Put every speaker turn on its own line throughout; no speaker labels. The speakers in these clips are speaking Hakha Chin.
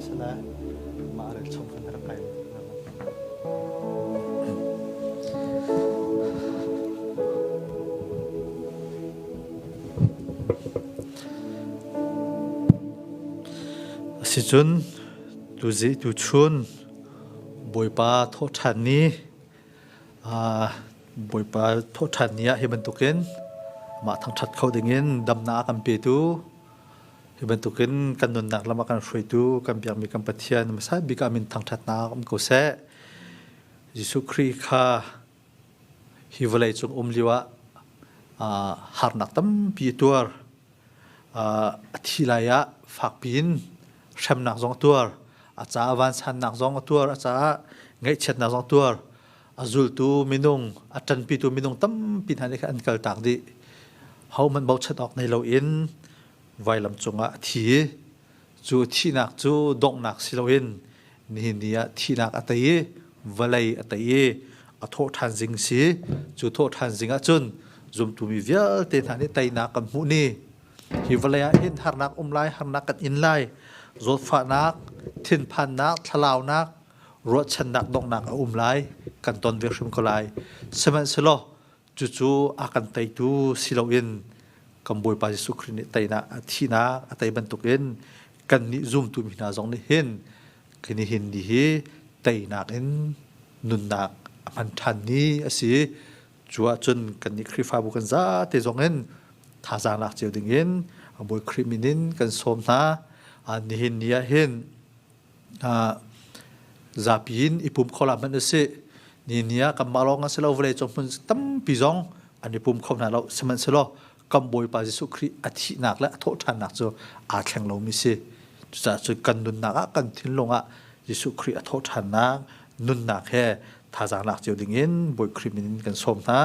Salai, mah a rak chung khan rak kai. Asicun tu zi tu chun Bawipa thaw ṭhan ni Bawipa thaw ṭhan ni ah hi bantukin mah thangṭhat kho dingin damnak a kan petu Hi bantukin kan nunnak lam a kan hruaitu kan biakmi kan Pathian hmasa bik ah min thangṭhatnak um ko seh. Jesuh Khrih kha hi vawleicung um lio ah uh, harnak tampi a tuar. Uh, a thi lai ah fakpi in hremnak zong a tuar. A caah vansannak zong a tuar. A caah ngaihchiatnak zong a tuar. A zultu minung, a ṭanpitu minung tampi hna nih khan an kaltak dih. Hohmanh bochat awk nei lo in vailam cungah a thi i cu thihnak cu donghnak si loin nihin ni ah thihnak a tei i vawlei a tei i a thawhṭhan zing si cu thawhṭhan zing ah cun zumtumi vialte hna nih teinak kan hmuh ni hi vawlei ah hin harnak um lai harnak kan in lai zawtfahnak thinphannak thlalaunak ruahchannak donghnak a um lai kan ton ve hrim ko lai sihmanhsehlaw Cucu a kan teitu si loin kan Bawipa Jesuh Khrih nih teinak thihnak a tei bantukin kannih zumtumi hna zong nih hin nihin ni hi teinak in nunnak a hman ṭhan ni a si. Cu ahcun kannih Khrihfabu kan zate zong in thazaang lak cio dingin Bawi Khrih min in kan sawm hna. Nihin ni ah hin zapi in i pum kho la hmanh a si. Ni ni ah kanmah lawng a si lo, vawlei cung hmun tampi zong an i pum kho hna lo. Sihmanhsehlaw kan Bawipa Jesuh Khrih a thihnak le a thawhṭhannak cu aa thleng lomi si. Cucaah cu kan nunnak ah, kan thinlung ah Jesuh Khrih a thawhṭhannak nunnak he thazaang lak cio ding in Bawi Khrih min in kan sawm hna.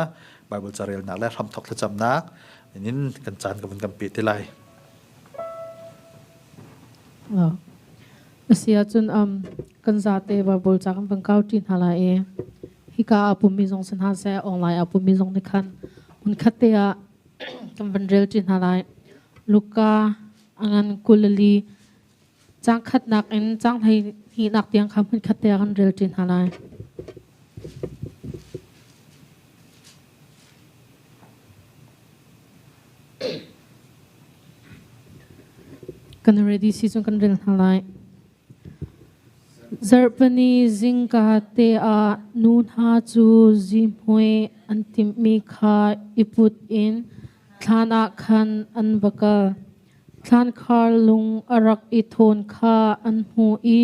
Baibal carelnak le hramthawk thlacamnak in kan caan ka vun kan pe te lai.
Asi ahcun kan zate Baibal ca kan van kauṭi hna lai i hika ah pummi zong si hna seh, online ah pummi zong nih khan hmunkhat te ah kan van relṭi hna lai. Luka a ngan kuleli caang khatnak in caang hlehnihnak tiang kha hmunkhat te ah kan relṭi hna lai. Kan ready si cun kan rel hna lai. Zarhpani zingka te ah nu hna cu zihmui an timhmi kha i put in thlan ah khan an va kal. Thlankhar lung a rak i thawn kha an hmu i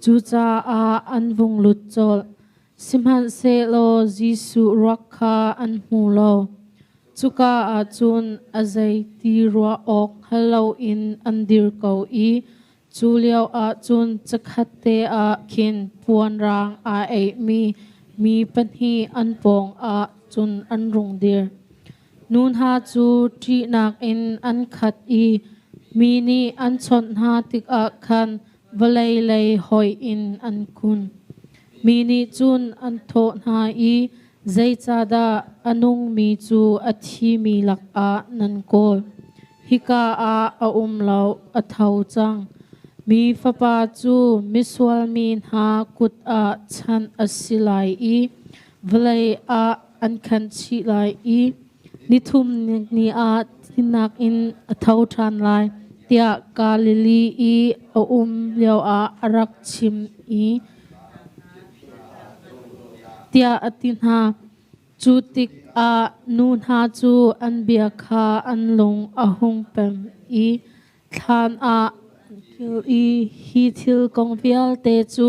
Cucaah an vung lut colh. Sihmanhsehlaw Jesuh ruak kha an hmu lo. Cuka ah cun a zei ti ruah awk hngal loin an dir ko i cu lio ah cun cakhatte ah khin puanrang aa eihmi mi pahnih an pawngah cun an rung dir. Nu hna cu ṭihnak in an khat i mi nih an chawnh hna tikah khan Vawlei lei hoih in an kun. Mi nih cun an thawh hna i, Zeicahdah a nungmi cu a thimi lakah nan kawl? Hika ah a um lo, a tho cang. Mi fapa cu misual mi hna kut ah chanh a si lai i vawlei ah an khanchih lai i Nithum ni ah thihnak in a tho ṭhan lai tiah Galilee i a um lioah a rak chim i tiah a ti hna. Cu tikah nu hna cu an bia kha an lung a hung pem i Thlan ah an kir i hi thil kong vialte cu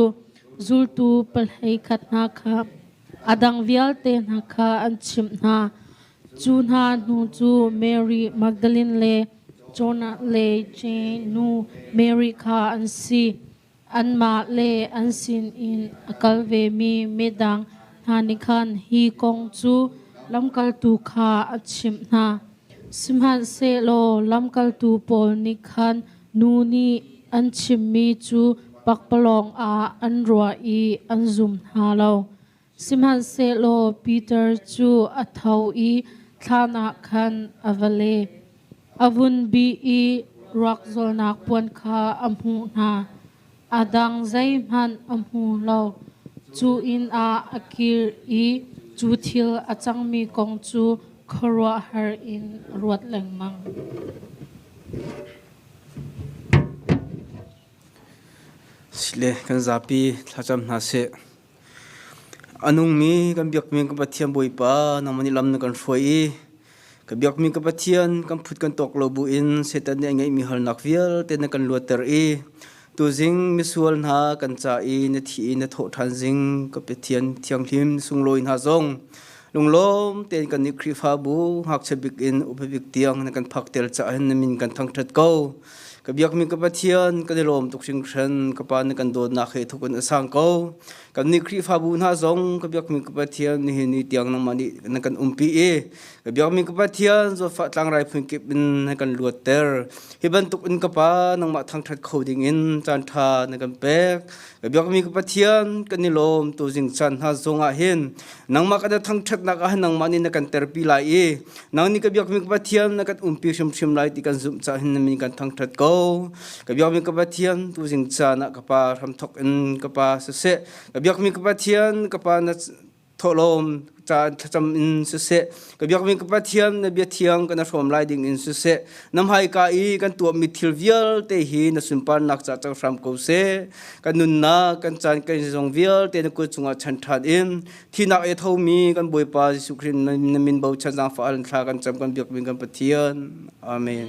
zultu pahlei khat hna kha a dang vialte hna kha an chimh hna. Cu hna hnu cu Mary Magdalene le Jonah le Jane nu Mary kha an si. Anmah le an sinin a kal vemi midang hna nih khan hi kong cu lamkaltu kha a chimh hna. Sihmanhsehlaw lamkaltu pawl nih khan nu nih an chimmi cu pakpalawng ah an ruah i an zum hna lo. Sihmanhsehlaw Piter cu a tho i thlan ah khan a va le. A vunbi i ruakzawlnak puan kha a hmuh hna. A dang zeihmanh a hmu lo. Cu inn ah a kir i cu thil a cangmi kong cu khuaruahhar in a ruat lengmang.
Sile kan zapi thlacam hna seh. A nungmi kan biakmi kan Pathian Bawipa nangmah nih lam na kan hruai i ka biakmi ka Pathian kan phut kan tawk lo buin Satan nih a ngeihmi halnak vialte na kan luatter i tuzing misual hna kan ca i na thih i na thawhṭhan zing ka Pathian Thianghlim sunglawi hna zong lunglawm tein kan nih Khrihfabu ngakchia bik in upa bik tiang na kan phakter caah hin na min kan thangṭhat ko. ka biakmi ka pathian kan i lawm tuk hringhran ka pa nih kan dawtnak he thuk in a sang ko kan nih khrihfabu hna zong ka biakmi ka pathian ni ni tiang nangmah nih na kan umpi i ka biakmi ka pathian zawfa tlangrai phun kip in na kan luatter hi bantuk in ka pa nangmah thangthat kho ding in caan tha na kan pek biakmi ka pathian kan i lawm tu jingchan hna zongah hin nangmah kan thangthatnak ah nangmah nih na kan terpi lai i nang nih ka biakmi ka pathian na kan umpi hrimhrim lai ti kan zumh cah hin na min kan thangthat ko ka biakmi ka pathian tu jingchan ah ka pa hramthok in ka pa siseh ka biakmi ka pathian ka pa na thawlawm caan thlacam in siseh ka biak mi ka pathian na bia thiang kan hrawm lai ding in siseh nam hai ka i kan tuam mi thil vialte hi na sunparnak ca cang hram ko se kan nunnak kan caan kan zong vialte na kut chungah chan ṭhan in thinak e tho mi kan bawipa Jesuh Christ na min bo chan zang fa an thla kan cam kan biak mi kan pathian amen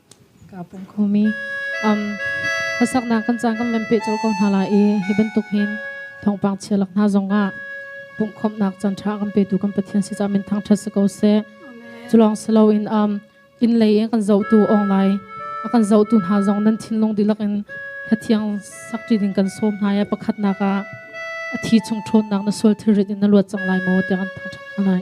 kaa pum khomi. Um, hlasaknak kan caan kan men pe col ko hna la i hi bantuk hin thawngpang chialak hna zongah pumhkhawmhnak can tha kan petu kan pathian si caah min thang that si ko se culong silo in um inn lei in kan zohtu ong lai a kan zohtu hna zong nan thinlung dihlak in thathiang sakti ding kan som hna ya pakhatnak ah a thi chung ṭhawnnak na sual thilrit in na luat cang lai maw te kan thang that hna lai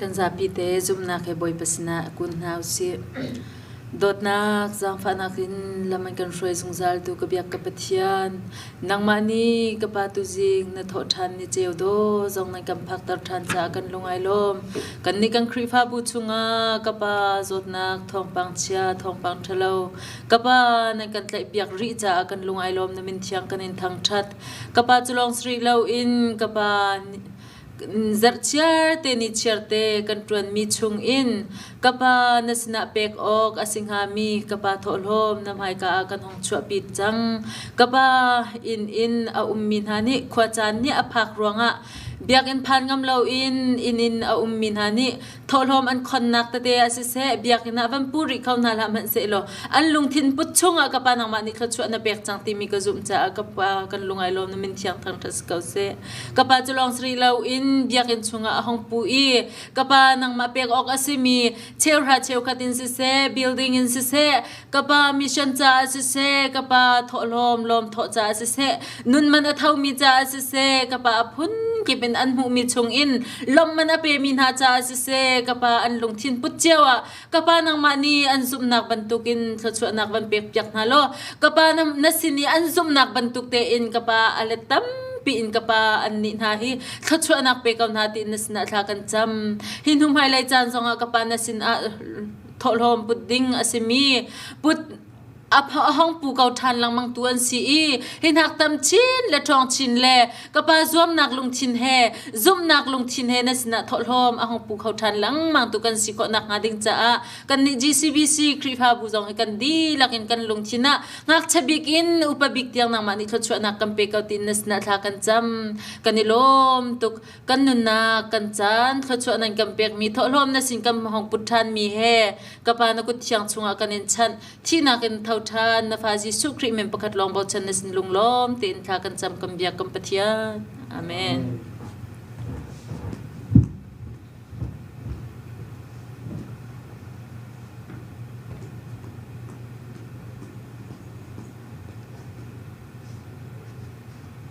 Kan zapi te zumhnak he Bawipa sinah a kun hna usih. Dawtnak zaangfahnak in lam an kan hruai zungzaltu ka biak ka Pathian. Nangmah nih ka pa tuzing na thawh ṭhan ni ceu daw zong nan kan phakter ṭhan caah kan lung ai lawm. Kan nih kan Khrihfabu chungah ka pa zawtnak thawngpang chia thawngpang ṭhalo ka pa nan kan tlaihpiak rih caah kan lung ai lawm na min thiang kan in thangṭhat. Ka pa cu lawng si rih loin ka pa zarh chiarte ni chiarte kan ṭuanmi chungin ka pa na sinah pek awk a si hngami ka pa thawhlawm na hmaika ah kan hong chuahpi cang. Ka pa inn in a ummi hna nih khuacaan nih a phak ruangah biakinn phan ngam loin inn in a ummi hna nih Thawhlawm an khonnak tete ah siseh biakinn ah van pu rih kho hna hlah hmanhsehlaw an lungthin put chungah ka pa nangmah nih thluachuah na pek cang timi ka zumh caah ka pa kan lung ai lawm na min thiang thang ṭha si ko seh. Ka pa cu lawng siri lo in biakinn chungah a hong pu i ka pa nangmah pek awk a simi cheuhra cheukhat in siseh building in siseh ka pa mission caah siseh ka pa thawhlawm lawm thawh caah siseh nun man a thomi caah siseh ka pa a phungkip in an hmuhmi chungin lawmh man a pemi hna caah siseh ka pa an lungthin put cio ah ka pa nangmah nih an zumhnak bantukin thluachuahnak van pek piak hna law ka pa na sin i an zumhnak bantuk tein ka pa a let tam piin ka pa an nih hna hi thluachuahnak pe ko hna tiin na sinah thla kan cam hi hnu hmailei caan zongah ka pa na sinah thawhlawm put ding a simi put a hong pu ko ṭhan lengmang tu an si i hi hnak tam chin le ṭhawng chin le ka pa zuamnak lungthin he zumhnak lungthin he na sinah thawhlawm a hong pu kho ṭhan lengmang tu kan si khawhnak hnga ding caah kan nih GCBC Khrihfabu zong hi kan dihlak in kan lungthin ah ngakchia bik in upa bik tiang nangmah nih thluachuahnak kan pe ko tiin na sinah thla kan cam kan i lawm tuk kan nunnak kan caan thluachuah nan kan pekmi thawhlawm na sin kan hong put ṭhanmi he ka pa na kut thiang chungah kan in chanh thihnak in tho ṭhan na fa Jesuh Khrih men pakhat lawng bochan na sin lunglawm tein thla kan cam kan biak kan Pathian amen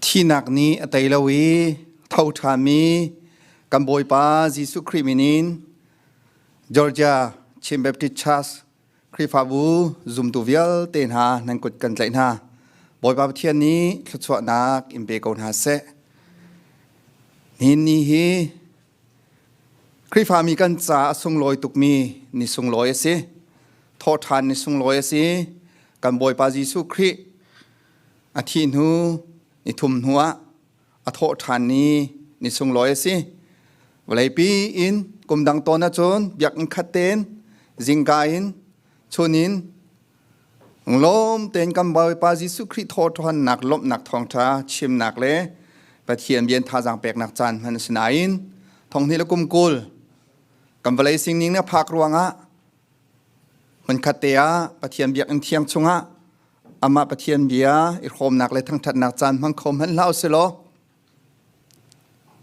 Thihnak nih a tei lo i tho ṭhami kan Bawipa Jesuh Khrih min in Georgia Chin Baptist Church Khrihfabu zumtu vialte hna
nan kut kan tlaih hna. Bawipa Pathian nih thluachuahnak in pe ko hna seh. Nihin ni hi Khrihfami kan ca a sunglawi tukmi ni sunglawi a si. Thawhṭhan ni sunglawi a si. Kan Bawipa Jesuh Khrih a thih hnu, ni thum hnu ah a thawhṭhan ni ni sunglawi a si. Vawleipi in kumdang tawn ahcun biakinn khat tein, zingka in, chun in, Lawm tein kan Bawipa Jesuh Khrih thawhthannak lawmhnak thawngtha chimnak le Pathian bian thazang peknak caan hman a si nain thonghni le kum kul kan vawlei singning na phak ruangah hmunkhat te ah Pathian biakinn thiang chungah amah Pathian bia i hrawmnak le thangthatnak caan hmang kho hmanh hlah usilaw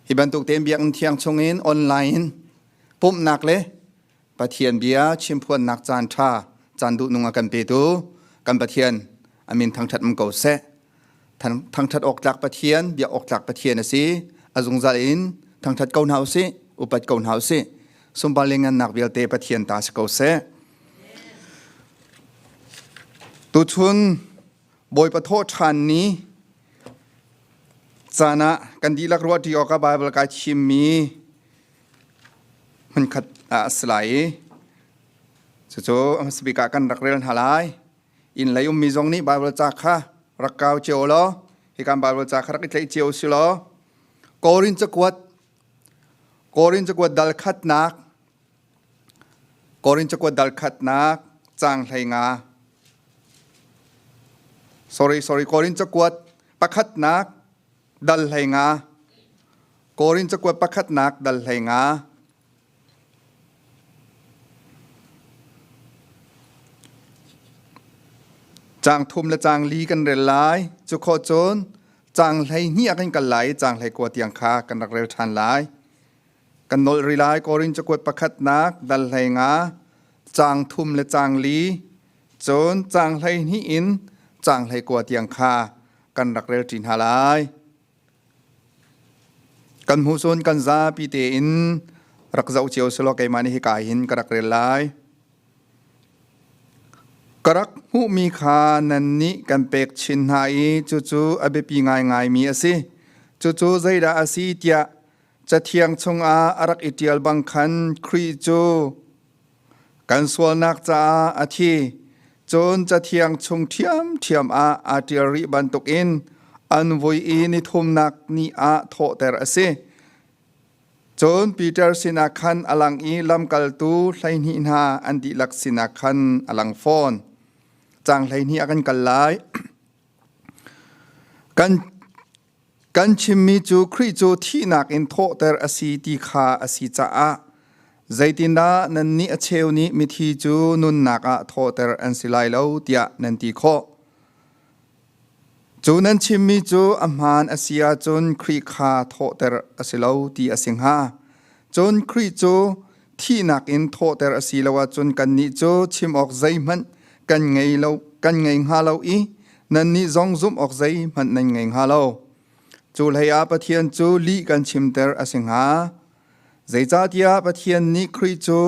hi bantuk tein biakinn thiang chungin online in pumhnak le Pathian bia chimphuannak caan ṭha caan duhnung ah kan petu kan Pathian amin thangṭhat um ko seh. Thangṭhat awk tlak Pathian, biak awk tlak Pathian a si. A zungzal in thangṭhat ko hna u sih, upat ko hna u sih. Sunpar le ngannak vialte Pathian ta si ko seh. Tuchun Bawipa Thawhṭhan ni caan ah kan dihlak ruah ṭi awkah Baibal kai thimmi hmunkhat ah a si lai i cucu speaker kan rak rel hna lai inn lei ummi zong nih bible ca kha rak kau cio law hi kan bible ca kha rak i tleih cio si law korin cakuat korin cakuat dal khatnak korin cakuat dal khatnak cang hlei nga sorry sorry korin cakuat pakhatnak dal hlei nga Korin cakuat pakhatnak dal hlei nga cang thum le cang li kan rel lai cu kho cun cang hlei hnih kan kal lai cang hlei kua tiang kha kan rak rel ṭhan lai kan nol ri lai Korin cakuat pakhatnak dal hlei nga cang thum le cang li cun cang hlei hnih in cang hlei kua tiang kha kan rak rel ṭi hna lai kan hmu cun kan zapi tein rak zoh cio selaw keimah nih hika hin ka rak rel lai ka rak hmuhmi kha nan nih kan pek chin hna i cucu a biapi ngaingaimi a si cucu zeidah a si tiah cathiang chungah a rak i ṭial bang khan Khrih cu Kan sualnak caah a thi, cun cathiang chung ṭhiamṭhiam ah aa ṭial rih bantukin an vui i nithumnak ni ah thawhter a si. Cun Piter sinah khan a lang i lamkaltu hleihnih hna an dihlak sinah khan a lang fawn. Caang hleihnih ah kan kal lai. Kan Kan chimmi cu Khrih cu thihnak in thawhter a si ti kha a si caah zeitindah nannih a cheu nih mithi cu nunnak ah thawhter an si lai lo tiah nan ti khawh. Cu nan chimmi cu a hmaan a si ahcun Khrih kha thawhter a si lo ti a si hnga. Cun Khrih cu thihnak in thawhter a si lo ahcun kannih cu chim awk zeihmanh kan ngei lo kan ngei hnga lo i nannih zong zumh awk zeihmanh nan ngei hnga lo cu hlei ah Pathian cu lih kan chimter a si hnga zeicahtiah Pathian nih Khrih cu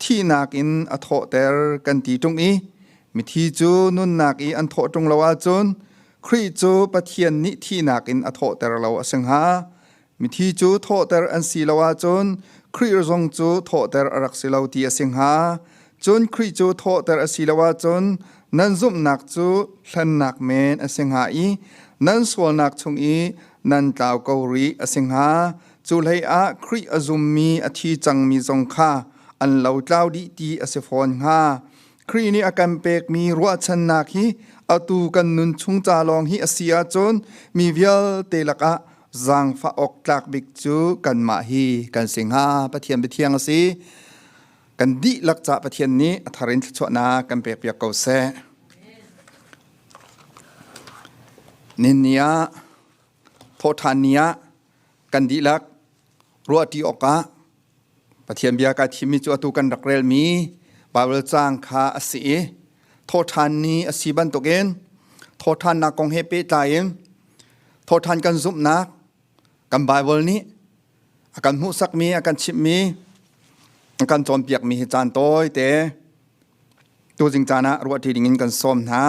thihnak in a thawhter kan ti ṭung i mithi cu nunnak i an thawh ṭung lo ahcun Khrih cu Pathian nih thihnak in a thawhter lo a si hnga Mithi cu thawhter an si lo ahcun Khrih zong cu thawhter a rak si lo ti a si hnga. Cun Khrih cu thawhter a si lo ahcun nan zumhnak cu hlennak men a si hnga i nan sualnak chung i nan tlau ko rih a si hnga. Cu hleiah Khrih a zummi a thi cangmi zong kha an lo tlau dih ti a si fawn hnga. Khrih nih a kan pekmi ruahchannak hi atu kan nun chung ca lawng hi a si ahcun mi vialte lakah zaangfah awk tlak bik cu kanmah hi kan si hnga Pathian biathiang a si kan dihlak ca Pathian nih a thar in thluachuahnak kan pekpiak ko seh ninni ah thawhthan ni ah kan dihlak ruahṭi awkah Pathian bia kaa thimmi cu atu kan rak relmi Baibal caang kha a si i thawṭhan ni a si bantukin thawṭhannak kong he pehtlai in thawṭhan kan zumhnak kan Baibal nih a kan hmuhsakmi a kan chimhmi a kan cawnpiakmi hi caan tawite tuzing caan ah ruahṭi dingin kan sawm hna.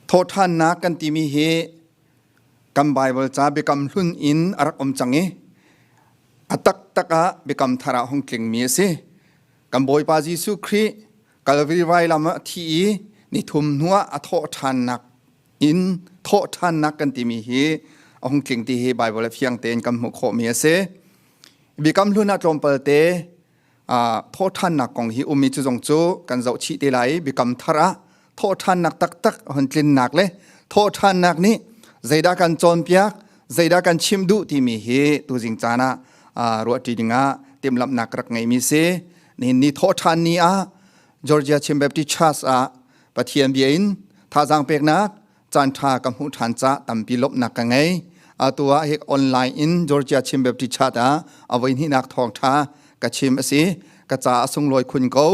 Thawhṭhannak kan timi hi kan Baibal ca biakam hlun in a rak um cang i a taktak ah biakam thar ah hung tlingmi a si. Kan Bawipa Jesuh Khrih Kalvari vailam ah a thi i nithum hnu ah a thawhṭhannak in thawhṭhannak kan timi hi a hung tling ti hi Baibal a fiang tein kan hmuh khawhmi a si. Biakam hlun ah tlawmpalte thawhthannak kong hi ummi cu zong cu kan zoh chih te lai biakam thar ah thawhthannak taktak hun tlinnak le thawhthannak nih zeidah kan cawnpiak zeidah kan chim duh timi hi tuzing caan ah ruahṭi dingah timlamnak rak ngeimi si nihin ni thawhthan ni ah Georgia Chin Baptist Church ah Pathian bia in thazang peknak caanṭha ka hmuh ṭhan ca tampi lawmhnak ka ngei atu ah hik online in Georgia Chin Baptist Church ah avoi hninak thawngṭha ka chim asi ka ca a sunglawi khun ko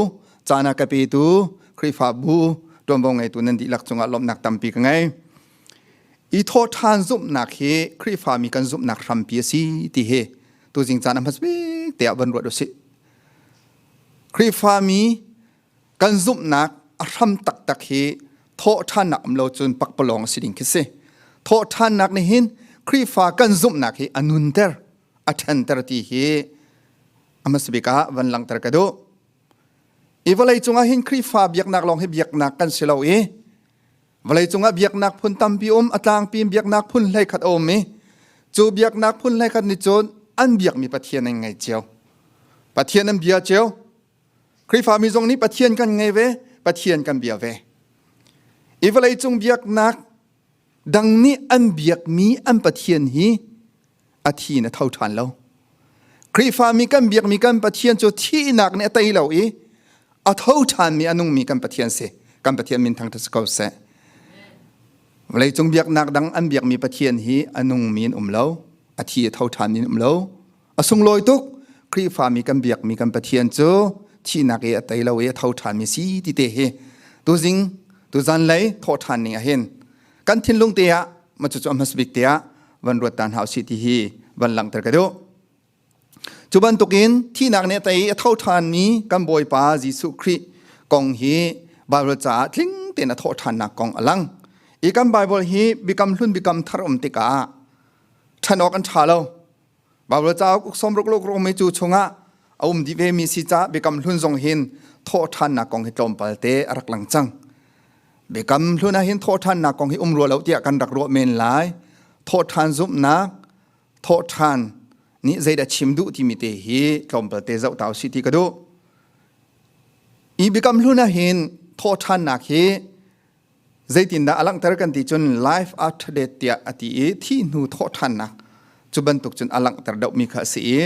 cana ka petu Khrihfabu ṭuanvo ngeitu nan dihlak cungah lawmhnak tampi ka ngei i thaw ṭhan zumhnak hi Khrihfa mi kan zumhnak hrampi asi ti hi tu jing caan a hmasbik te ah van ruat usih Khrihfa mi kan zumhnak a hram taktak hi thawhṭhannak um lo cun pakpalawng a si ding khi si thawhṭhannak nih hin Khrihfa kan zumhnak hi a nunter a ṭhenter ti hi amasabik ah van langter ka duh i vawlei cungah hin Khrihfa biaknak lawng hi biaknak kan si lo i vawlei cungah biaknak phun tampi um a tlangpi biaknak phun hlei khat a um i cu biaknak phun hlei khat nih cun an biakmi Pathian an ngei cio Pathian an bia cio Khrihfami zong nih Pathian kan ngei ve, Pathian kan bia ve. I vawleicung biaknak dang nih an biakmi an Pathian hi a thi in a tho ṭhan lo. Khrihfami kan biakmi kan Pathian cu thihnak nih a tei lo i a tho ṭhanmi a nungmi kan Pathian si. Kan Pathian min thangṭhat si ko seh. Vawleicung biaknak dang an biakmi Pathian hi a nungmi in um lo, a thi a tho ṭhanmi in um lo, A sunglawi tuk Khrihfami kan biakmi kan Pathian cu thihnak i a tei lo i a tho ṭhanmi si ti te hi tuzing tuzan lei thawh ṭhan ning ahhin kan thinlung te ah macu cu a hmas bik te ah van ruat ta hna usih ti hi van langhter ka duh cu bantukin thihnak nih a tei i a tho ṭhanmi kan Bawipa Jesuh Khrih kong hi Baibal caah tling tein a thawh ṭhannak kong a lang i kan Baibal hi bikam hlun bikam thar um tikah ṭhan awk an ṭha lo Baibal cauk uksawm ruk luk rung mi cu chungah a um di ve mi si ca biakam hlun zong hin thawhthannak kong hi tlawmpal te a rak lang cang. Biakam hlun ah hin thawhthannak kong hi um rua lo tiah kan rak ruah men lai. Thawhthan zumhnak, thawhthan nih zeidah chim duh ti mi te hi tlawmpal te zoh tau si ti ka duh. I biakam hlun ah hin thawhthannak hi Zeitindah a langhter kan ti cun life after death tiah a ti i thih hnu thawhṭhannak cu bantuk cun a langhter deuhmi kha a si i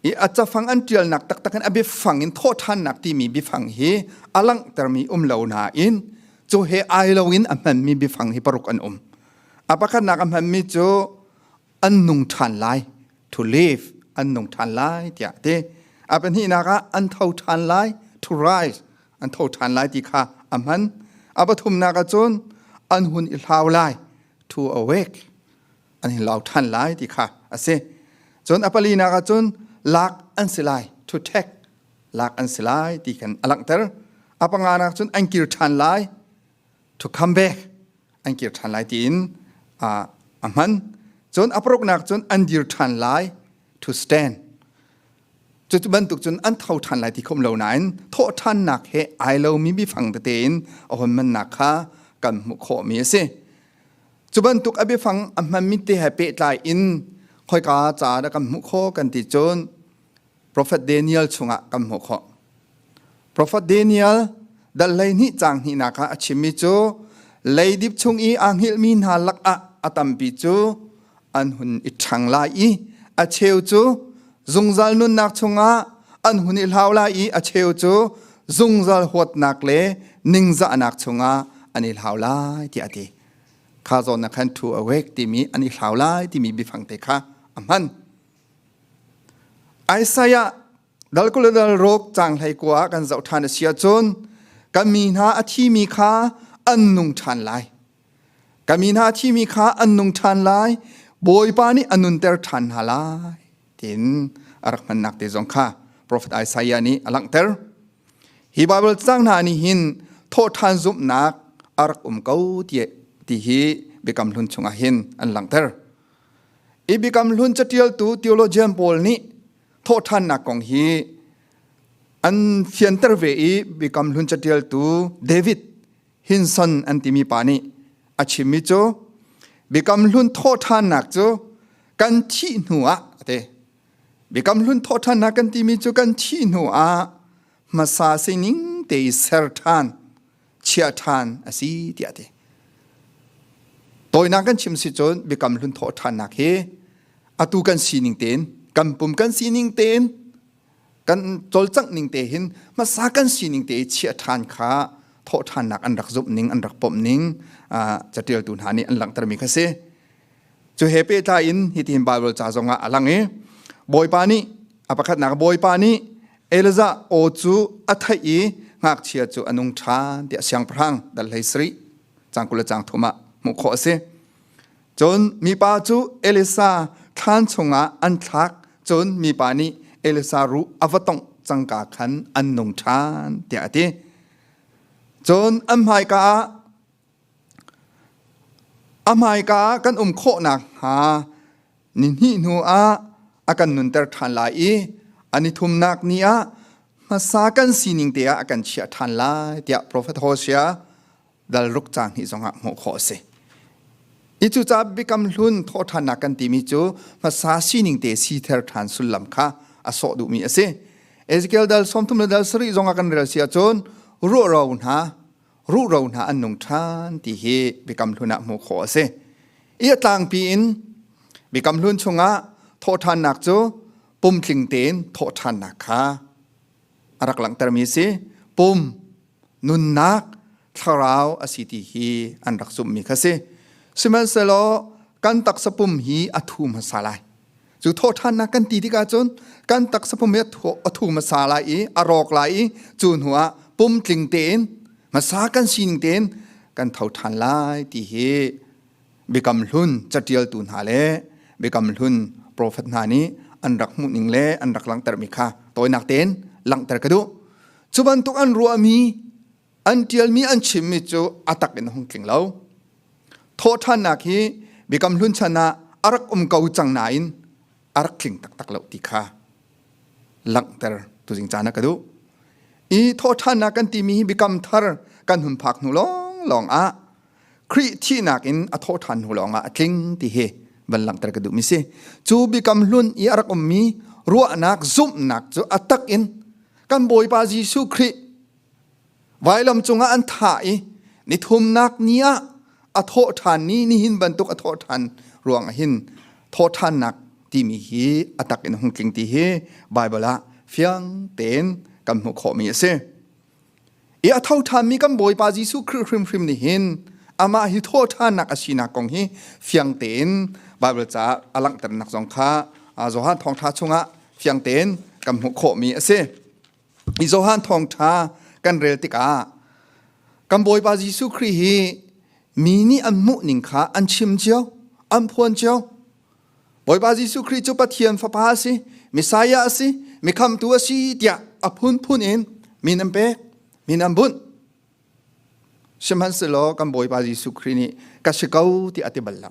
i a cafang an ṭialnak taktak in a biafang in thawhṭhannak timi biafang hi a langhtermi um lo nain cu he ai loin a hmanmi biafang hi paruk an um. A pakhatnak a hmanmi cu an nung ṭhan lai to live an nung ṭhan lai tiah ti a pahnihnak ah an tho ṭhan lai to rise an tho ṭhan lai ti kha a hman a pathumnak ah cun an hun i hlau lai to awake an i lau ṭhan lai ti kha a si cun a palinak ah cun lak an si lai to take lak an si lai ti kan a langhter a panga nak cun an kir ṭhan lai to come back an kir ṭhan lai tiin a hman. Cun a paruknak cun an dir ṭhan lai to stand. Cucu bantuk cun an tho ṭhan lai ti khom lo nain thawhṭhannak he ai lomi bifang tete in a hon mannak kha kan hmuh khawhmi a si. Cu bantuk a biafang a hmanmi te he pehtlai in khoika ca dah kan hmuh khawh kan ti cun profet Daniel chungah kan hmuh khawh. Profet Daniel dal lei ni cang hni nak ah a chimmi cu leidip chung i a ngilmi hna lakah a tampi cu an hun i ṭhang lai i a cheu cu zungzal nunnak chungah an hun i hlau lai i a cheu cu zungzal huatnak le ningzahnak chungah an i hlau lai ti a ti kha zawn na khan thu awek timi an i hlau lai timi biafang te kha a hman Isaiah dal kul le dal rok cang hlei kua ah kan zoh ṭhan a si ahcun ka mi hna a thimi kha an nung ṭhan lai. Ka mi hna a thimi kha an nung ṭhan lai. Bawipa nih a nunter ṭhan hna lai tiin a rak hmannak te zong kha profet Isaiah nih a langhter. Hi Bible cang hna nih hin thawhṭhan zumhnak a rak um ko ti hi biakam hlun chungah hin an langhter. i bikam hlun catialtu theologian pawl nih thawhthannak kong hi an fianter ve i bikam hlun catialtu David Hinson an timi pa nih a chimmi cu bikam hlun thawhthannak cu kan thih hnu ah a ti bikam hlun thawhthannak kan timi cu kan thih hnu ah hmasa sining te i ser than chia ṭhan a si tiah ti tawinak kan chim si cun biakam hlun thawh ṭhannak hi atu kan sining tein kan pum kan sining tein kan cawlcangh ning te hin hmasa kan sining te chiah ṭhan kha thawh ṭhannak an rak zumh ning an rak pom ning caṭialtu hna nih an langhtermi kha si Cu he pehtlai in hitin Baibal ca zongah a lang i Bawipa nih a pakhatnak Bawipa nih Elijah aw cu a theih i ngakchia cu a nung ṭhan ti a siangpahrang dal hlei sarih cang kul le cang thum ah hmuh khawh a si. Cun mipa cu Elisa thlan chungah an thlak cun mipa nih Elisa ruh a va tongh cangka khan an nung ṭhan tiah a ti. Cun an hmaika ah A hmaika ah kan um khawh nakhnga ni hnih hnu ah a kan nunter ṭhan lai i a nithumnak ni ah hmasa kan sining te ah a kan chiah ṭhan lai tiah profet Hosea dal ruk caan hnih zongah hmuh khawh a si. Hi cucaah biakam hlun thawhṭhannak kan timi cu hmasa sining te sither ṭhan sullam kha a sawh duhmi a si. Ezekiel dal sawmthum le dal sarih zong a kan rel si ahcun ruah ro hna ruhro hna an nung ṭhan ti hi Biakam Hlun ah hmuh khawh a si. I a tlangpi in Biakam Hlun chungah thawhṭhannak cu pumtling tein thawhṭhannak kha a rak langhtermi a si. Pum, nunnak, thlarau a si ti hi an rak zummi kha si. Sihmanhsehlaw kan taksa pum hi a thu hmasa lai. cu thawhthannak kan ti tik ahcun kan taksa pum hi a thu hmasa lai i a rawk lai i cu hnu ah pum tling tein hmasa kan sining tein kan tho than lai ti hi biakam hlun catialtu hna le biakam hlun profet hna nih an rak hmuhning le an rak langhtermi kha tawinak tein langhter ka duh cu bantuk an ruahmi an ṭialmi an chimmi cu a tak in a hung tling lo. Thawhṭhannak hi Biakam Hlun chan ah a rak um ko cang nain a rak tling taktak lo ti kha langhter tuzing caan ah ka duh. I thawhṭhannak kan timi hi biakam thar kan hun phak hnu lawnglawng ah Khrih thihnak in a thawhṭhan hnu lawng ah a tling ti hi van langhter ka duhmi si. Cu biakam hlun i a rak ummi ruahnak zumhnak cu a tak in kan Bawipa Jesuh Khrih Vailam cungah an thah i nithumnak ni ah a thawh ṭhan ni nihin bantuk a thawh ṭhan ruang ah hin thawhṭhannak timi hi a tak in hung tling ti hi Baibal ah fiang tein kan hmuh khawhmi a si. I a tho ṭhanmi kan Bawipa Jesuh Khrih hrimhrim nih hin amah hi thawhṭhannak a sinak kong hi fiang tein Baibal caah a langhternak zong kha Johan Thawngṭha chungah fiang tein kan hmuh khawhmi a si. i Johan thawngtha kan rel tikah kan Bawipa Jesuh Khrih hi mi nih an hmuh ning kha an chim cio an phuan cio Bawipa Jesuh Khrih cu Pathian fapa a si Messiah a si mi khamtu a si tiah a phunphun in min an pek min an bunh Sihmanhsehlaw kan Bawipa Jesuh Khrih nih ka si ko ti a ti bal lo.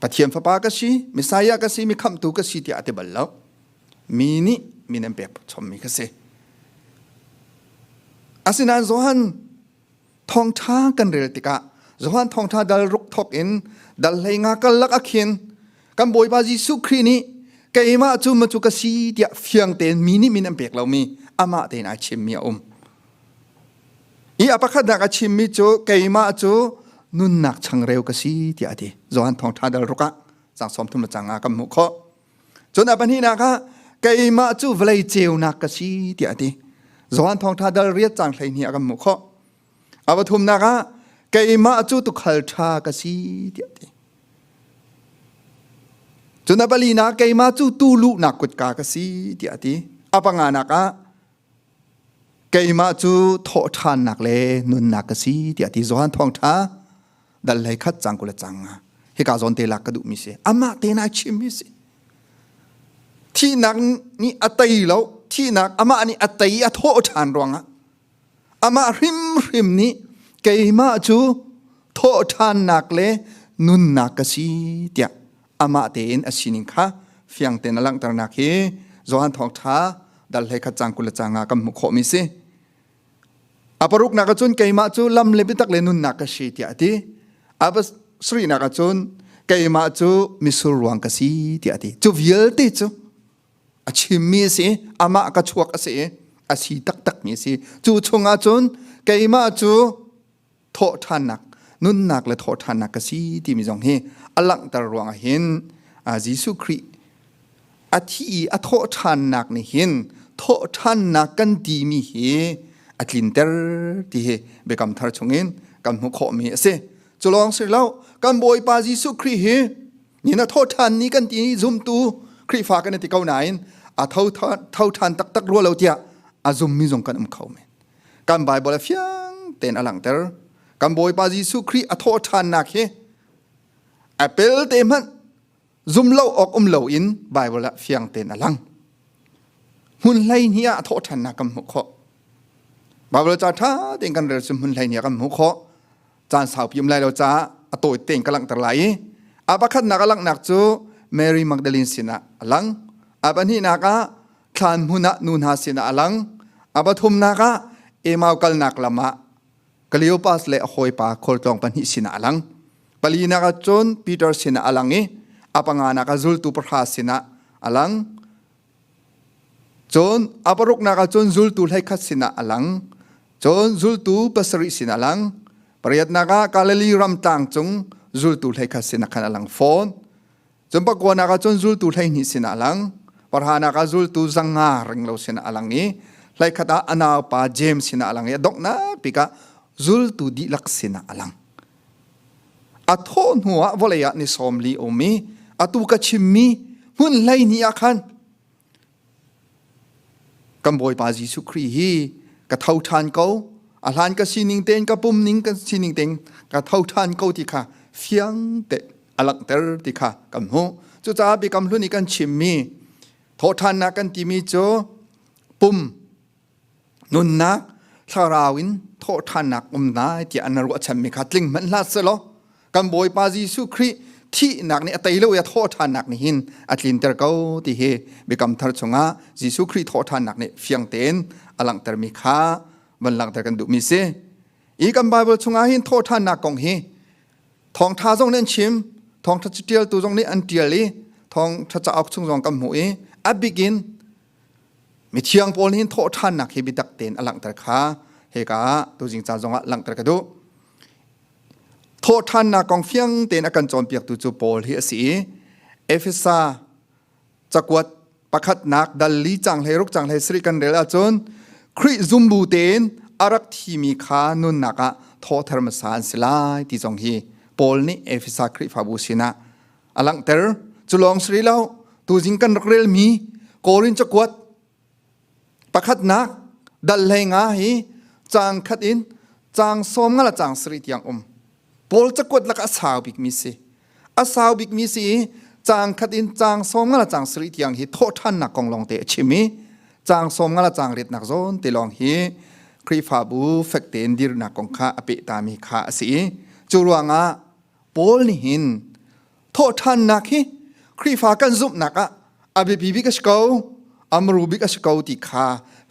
Pathian fapa ka si, Messiah ka si, mi khamtu ka si ti a ti bal lo. Mi nih mi nan pek chommi ka si. Asinain Johan thawngṭha kan rel tikah Johan thawngṭha dal ruk thawk in dal hleinga karlak ah khin kan bawipa jesuh khrih nih keimah cu ma cu ka si tiah fiang tein mi nih min an pek lomi amah tein ai chimmi a um i a pakhatnak a chimmi cu keimah cu nunnak changreu ka si tiah a ti Johan thawngṭha dal ruk ah sang sawm thum le cang ah kan hmuh khawh cun a pahnihnak ah keimah cu vawlei ceunak ka si tiah a ti Johan thawngṭha dal riat cang hlei ni a kan hmuh khawh A va thumnak ah keimah cu tukhal ṭha ka si tiah ti. Cun a palinak keimah cu tu luhnak kutka ka si tiah ti. A panganak ah keimah cu thawh ṭhannak le nunnak ka si tiah ti zohan thawngṭha dal lei khat cang kula cang nga hika zawn te lak ka duh mi si amah te na chim mi si thihnak nih a tei lo thihnak amah nih a tei a thawh ṭhan ruangah Amah hrimhrim nih keimah cu thawhṭhannak le nunnak ka si tiah amah tein a sining kha fiang tein a langhternak hi Johan Thawngṭha dal hlei khat cang kul le cang ah kan hmuh khawhmi si. A paruknak ah cun keimah cu lam le biatak le nunnak ka si tiah a ti. A pasarihnak ah cun keimah cu mitsur ruang ka si tiah a ti. Cu vialte cu a chimmi a si amah ka chuak a si a si taktakmi a si cu chungah cun keimah cu thawhṭhannak nunnak le thawhṭhannak ka si timi zong hi a langhter ruangah hin Jesuh Khrih a thi i a thawhṭhannak nih hin thawhṭhannak kan timi hi a tlinter ti hi biakam thar chungin kan hmuh khawhmi a si culawng si lo kan Bawipa Jesuh Khrih hi ni na tho than ni kan ti zumtu khrifa kan ti ko nain a tho tho than tak tak ruo lo tia a zum mi zong kan um kho men kan bible fiang ten alang ter kan bawipa jesu kri a tho than nak hi apple te man zum lo ok um lo in bible fiang ten alang mun hlai nia a tho than na kam mu kho bible cha tha ten kan rel sum mun hlai nia kam mu kho caan saupi um lai lo caah a tawi tein ka langhter lai i a pakhatnak a langhnak cu Mary Magdalene sinah a lang a pahnihnak ah thlan hmun ah nu hna sinah a lang a pathumnak ah Emau kalnak lam ah Cleopas le a hawipa khualtlawng pahnih sinah a lang palinak ah cun Peter sinah a lang i a panganak ah zultu pahra sinah a lang Cun a paruknak ah cun zultu hleikhat sinah a lang. Cun zultu pasarih sinah a lang. Pariatnak ah Galilee ram tlang cung zultu hleikhat sinah khan a lang fawn. Cun pakuanak ah cun zultu hleihnih sinah a lang. Parhanak ah zultu zanga ringlo sinah a lang i hleikhat ah a naupa James sinah a lang i a donghnak tikah zultu dihlak sinah a lang. a thawh hnu ah vawlei ah ni sawm li um i atu ka chimmi hmun hlei ni ah khan kan bawipa Jesuh Khrih hi ka tho ṭhan ko a hlan ka sining tein ka pum ning ka sining tein ka tho ṭhan ko ti kha fiang te a langhter ti kha kan hmuh cucaah biakam hlun i kan chimmi thawhṭhannak kan timi cu pum Nunnak thlarau in thawhṭhannak um lai tiah na ruahchanmi kha tling hmanh hlah selaw kan Bawipa Jesuh Khrih thihnak nih a tei lo i a thawhṭhannak nih hin a tlinter ko ti hi biakam thar chungah Jesuh Khrih thawhṭhannak nih fiang tein a langhtermi kha van langhter kan duhmi si. I kan Bible chungah hin thawhṭhannak kong hi thawngṭha zong nih an chim, thawngṭha ṭialtu zong nih an ṭial i thawngṭha cauk chung zong kan hmuh i a bik in Mithiang Paul nih thawhṭhannak hi biatak tein a langhter kha heka ah tuzing ca zongah langhter ka duh. Thawhṭhannak kong fiang tein a kan cawnpiaktu cu Paul hi a si i Efesa cakuat pakhatnak dal li cang hlei ruk cang hlei sari kan rel ahcun Khrih zumbu tein a rak thimi kha nunnak ah thawther hmasa an si lai ti zong hi Paul nih Efesa Khrihfabu sinah a langhter cu lawng si lo tuzing kan rak relmi korin cakuat pakhatnak dal hlei nga hi cang khat in cang som nga la cang sri tiang um paul cakuat lak a sau bik mi si a sau bik mi si cang khat in cang som nga la cang sri tiang hi thaw than nak kong long te a chim i cang som nga la cang ret nak zon te long hi krifabu fekte in dir nak kong kha ape ta mi kha asi cu ruangah Paul nih hin thawhthannak hi Khrihfa kan zumhnak ah a biapi bik a si ko amru bik a si ko ti kha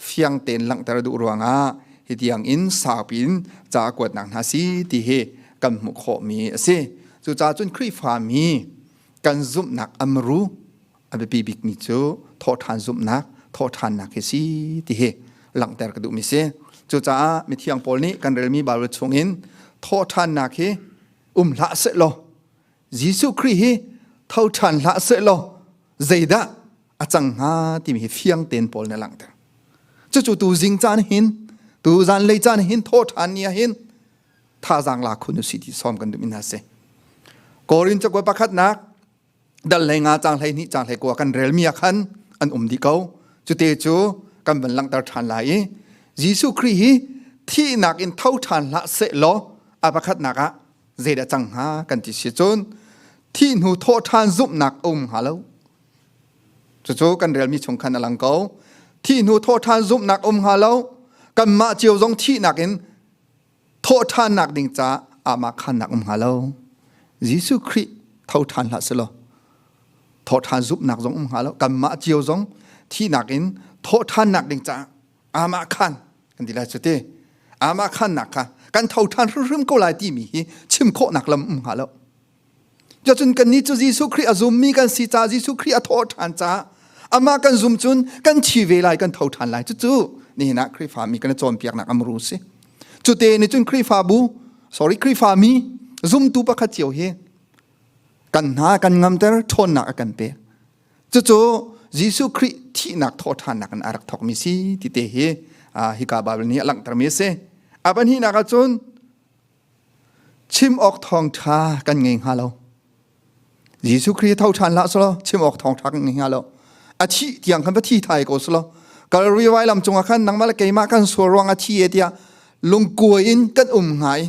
fiang tein langhter duh ruangah hi tiang in saupi in ca kuatnak hna si ti hi kan hmuh khawhmi a si cucaah cun Khrihfa mi kan zumhnak amru A biapi bikmi cu thawhṭhan zumhnak, thawhṭhannak hi si ti hi langhter ka duhmi si. Cucaah mithiang Paul nih kan relmi Baibal chungin thawhṭhannak hi um hlah seh law Jesuh Khrih hi tho ṭhan hlah seh law zeidah a cang hnga timi hi fiang tein Paul nih a langhter. Cucu tu zing caan hin tu zanlei caan hin thawhṭhan ni ah hin thazaang la khun u si ti sawm kan duhmi hna si. Korin cakuat pakhatnak dal hlei nga cang hlei hnih cang hlei kua kan rel mi ah khan an um dih ko cute cu kan van langhter ṭhan lai i Jesuh Khrih hi thihnak in tho ṭhan hlah seh law a pakhatnak ah zeidah cang hnga kan ti si cun thih hnu thawh ṭhan zumhnak um hnga lo cucu kan rel mi chung khan a lang ko thih hnu thawh ṭhan zumhnak um hnga lo kanmah cio zong thihnak in thawhṭhannak ding ca aamah khannak um hnga lo. Jesuh Khrih thoṭhan hlah selaw thawṭhan zumhnak zong um hnga lo kanmah cio zong thihnak in thawhṭhannak ding ca aamah khan kan ti lai cu ti aamah khannak kha kan thoṭhan hrimhrim ko lai timi hi chim khawhnak lam um hnga lo Cacun kannih cu Jesuh Khrih a zummi kan si caah Jesuh Khrih a thawh ṭhan caah amah kan zum cun kan thi ve lai kan tho ṭhan lai cucu nihin ah Khrihfa mi kan i cawnpiaknak amru si cute nih cun Khrihfabu sorry Khrihfa mi zumtu pakhat cio hi kan hna kan ngamter ṭhawnnak a kan pe cucu Jesuh Khrih thihnak thawṭhannak in a rak thawkmi si ti te hi hika Baibal nih a langhtermi a si a pahnihnak ah cun chim awk thawngṭha kan ngei hnga lo Jesuh Khrih tho ṭhan hlah sulaw chim awk thawngṭha kan ngei hnga lo a thi tiang khan va thi thai ko sulaw Kalvari vai lam cungah khan nangmah le keimah kan sual ruang a thi e tiah lungkua in kan um hnga i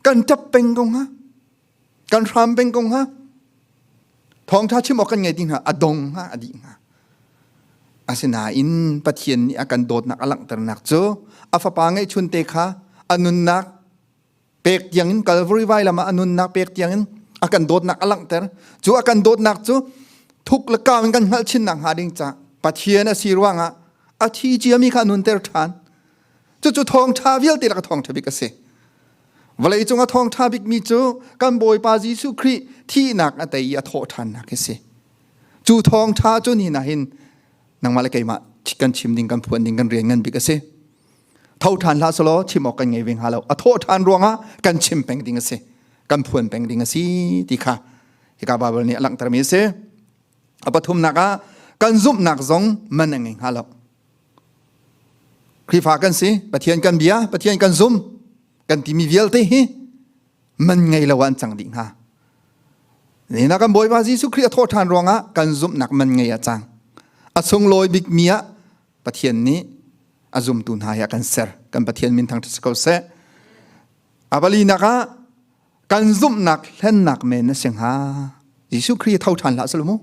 kan ṭap peng ko hnga kan hram peng ko hnga thawngtha chim awk kan ngei ti hnga a dong hnga a dih hnga asinain pathian nih a kan dawtnak a langhternak cu a fapa ngeihchun te kha a nunnak pek tiangin Calvary vai lama a nunnak pek tiangin a kan dawtnak a langhter cu a kan dawtnak cu thuk le kaam in kan hngalh chin nak hnga ding ca pathian a si ruangah a thi ciami kha nun ter ṭhan cucu thawngtha vialte lak a thawngtha bik a si vawlei cung a thawngtha bikmi cu kan bawipa jesuh khrih thihnak a tei i a thawh ṭhannak hi si cu thawngtha cu ni na hin nangmah le keimah kan chim ding kan phuan ding kan rian ngan bik a si tho ṭhan hlah selaw chim awk kan ngei ve hnga lo a thawh ṭhan ruangah kan chim peng ding a si kan phuan peng ding a si ti kha hika bible nih a langhtermi a si a pathumnak ah kan zumhnak zong man a ngei hnga lo Khrihfa kan si, Pathian kan bia, Pathian kan zum, kan timi vialte hi man ngei lo ah an cang dih hna. Nina kan Bawipa Jesuh Khrih a thawh ṭhan ruangah kan zumhnak man ngei a cang. A sunglawi bikmi ah Pathian nih a zumtu hna hi a kan ser. Kan Pathian min thang ṭha si ko seh. A palinak ah kan zumhnak hlennak men na si hnga Jesuh Khrih tho ṭhan hlah selamu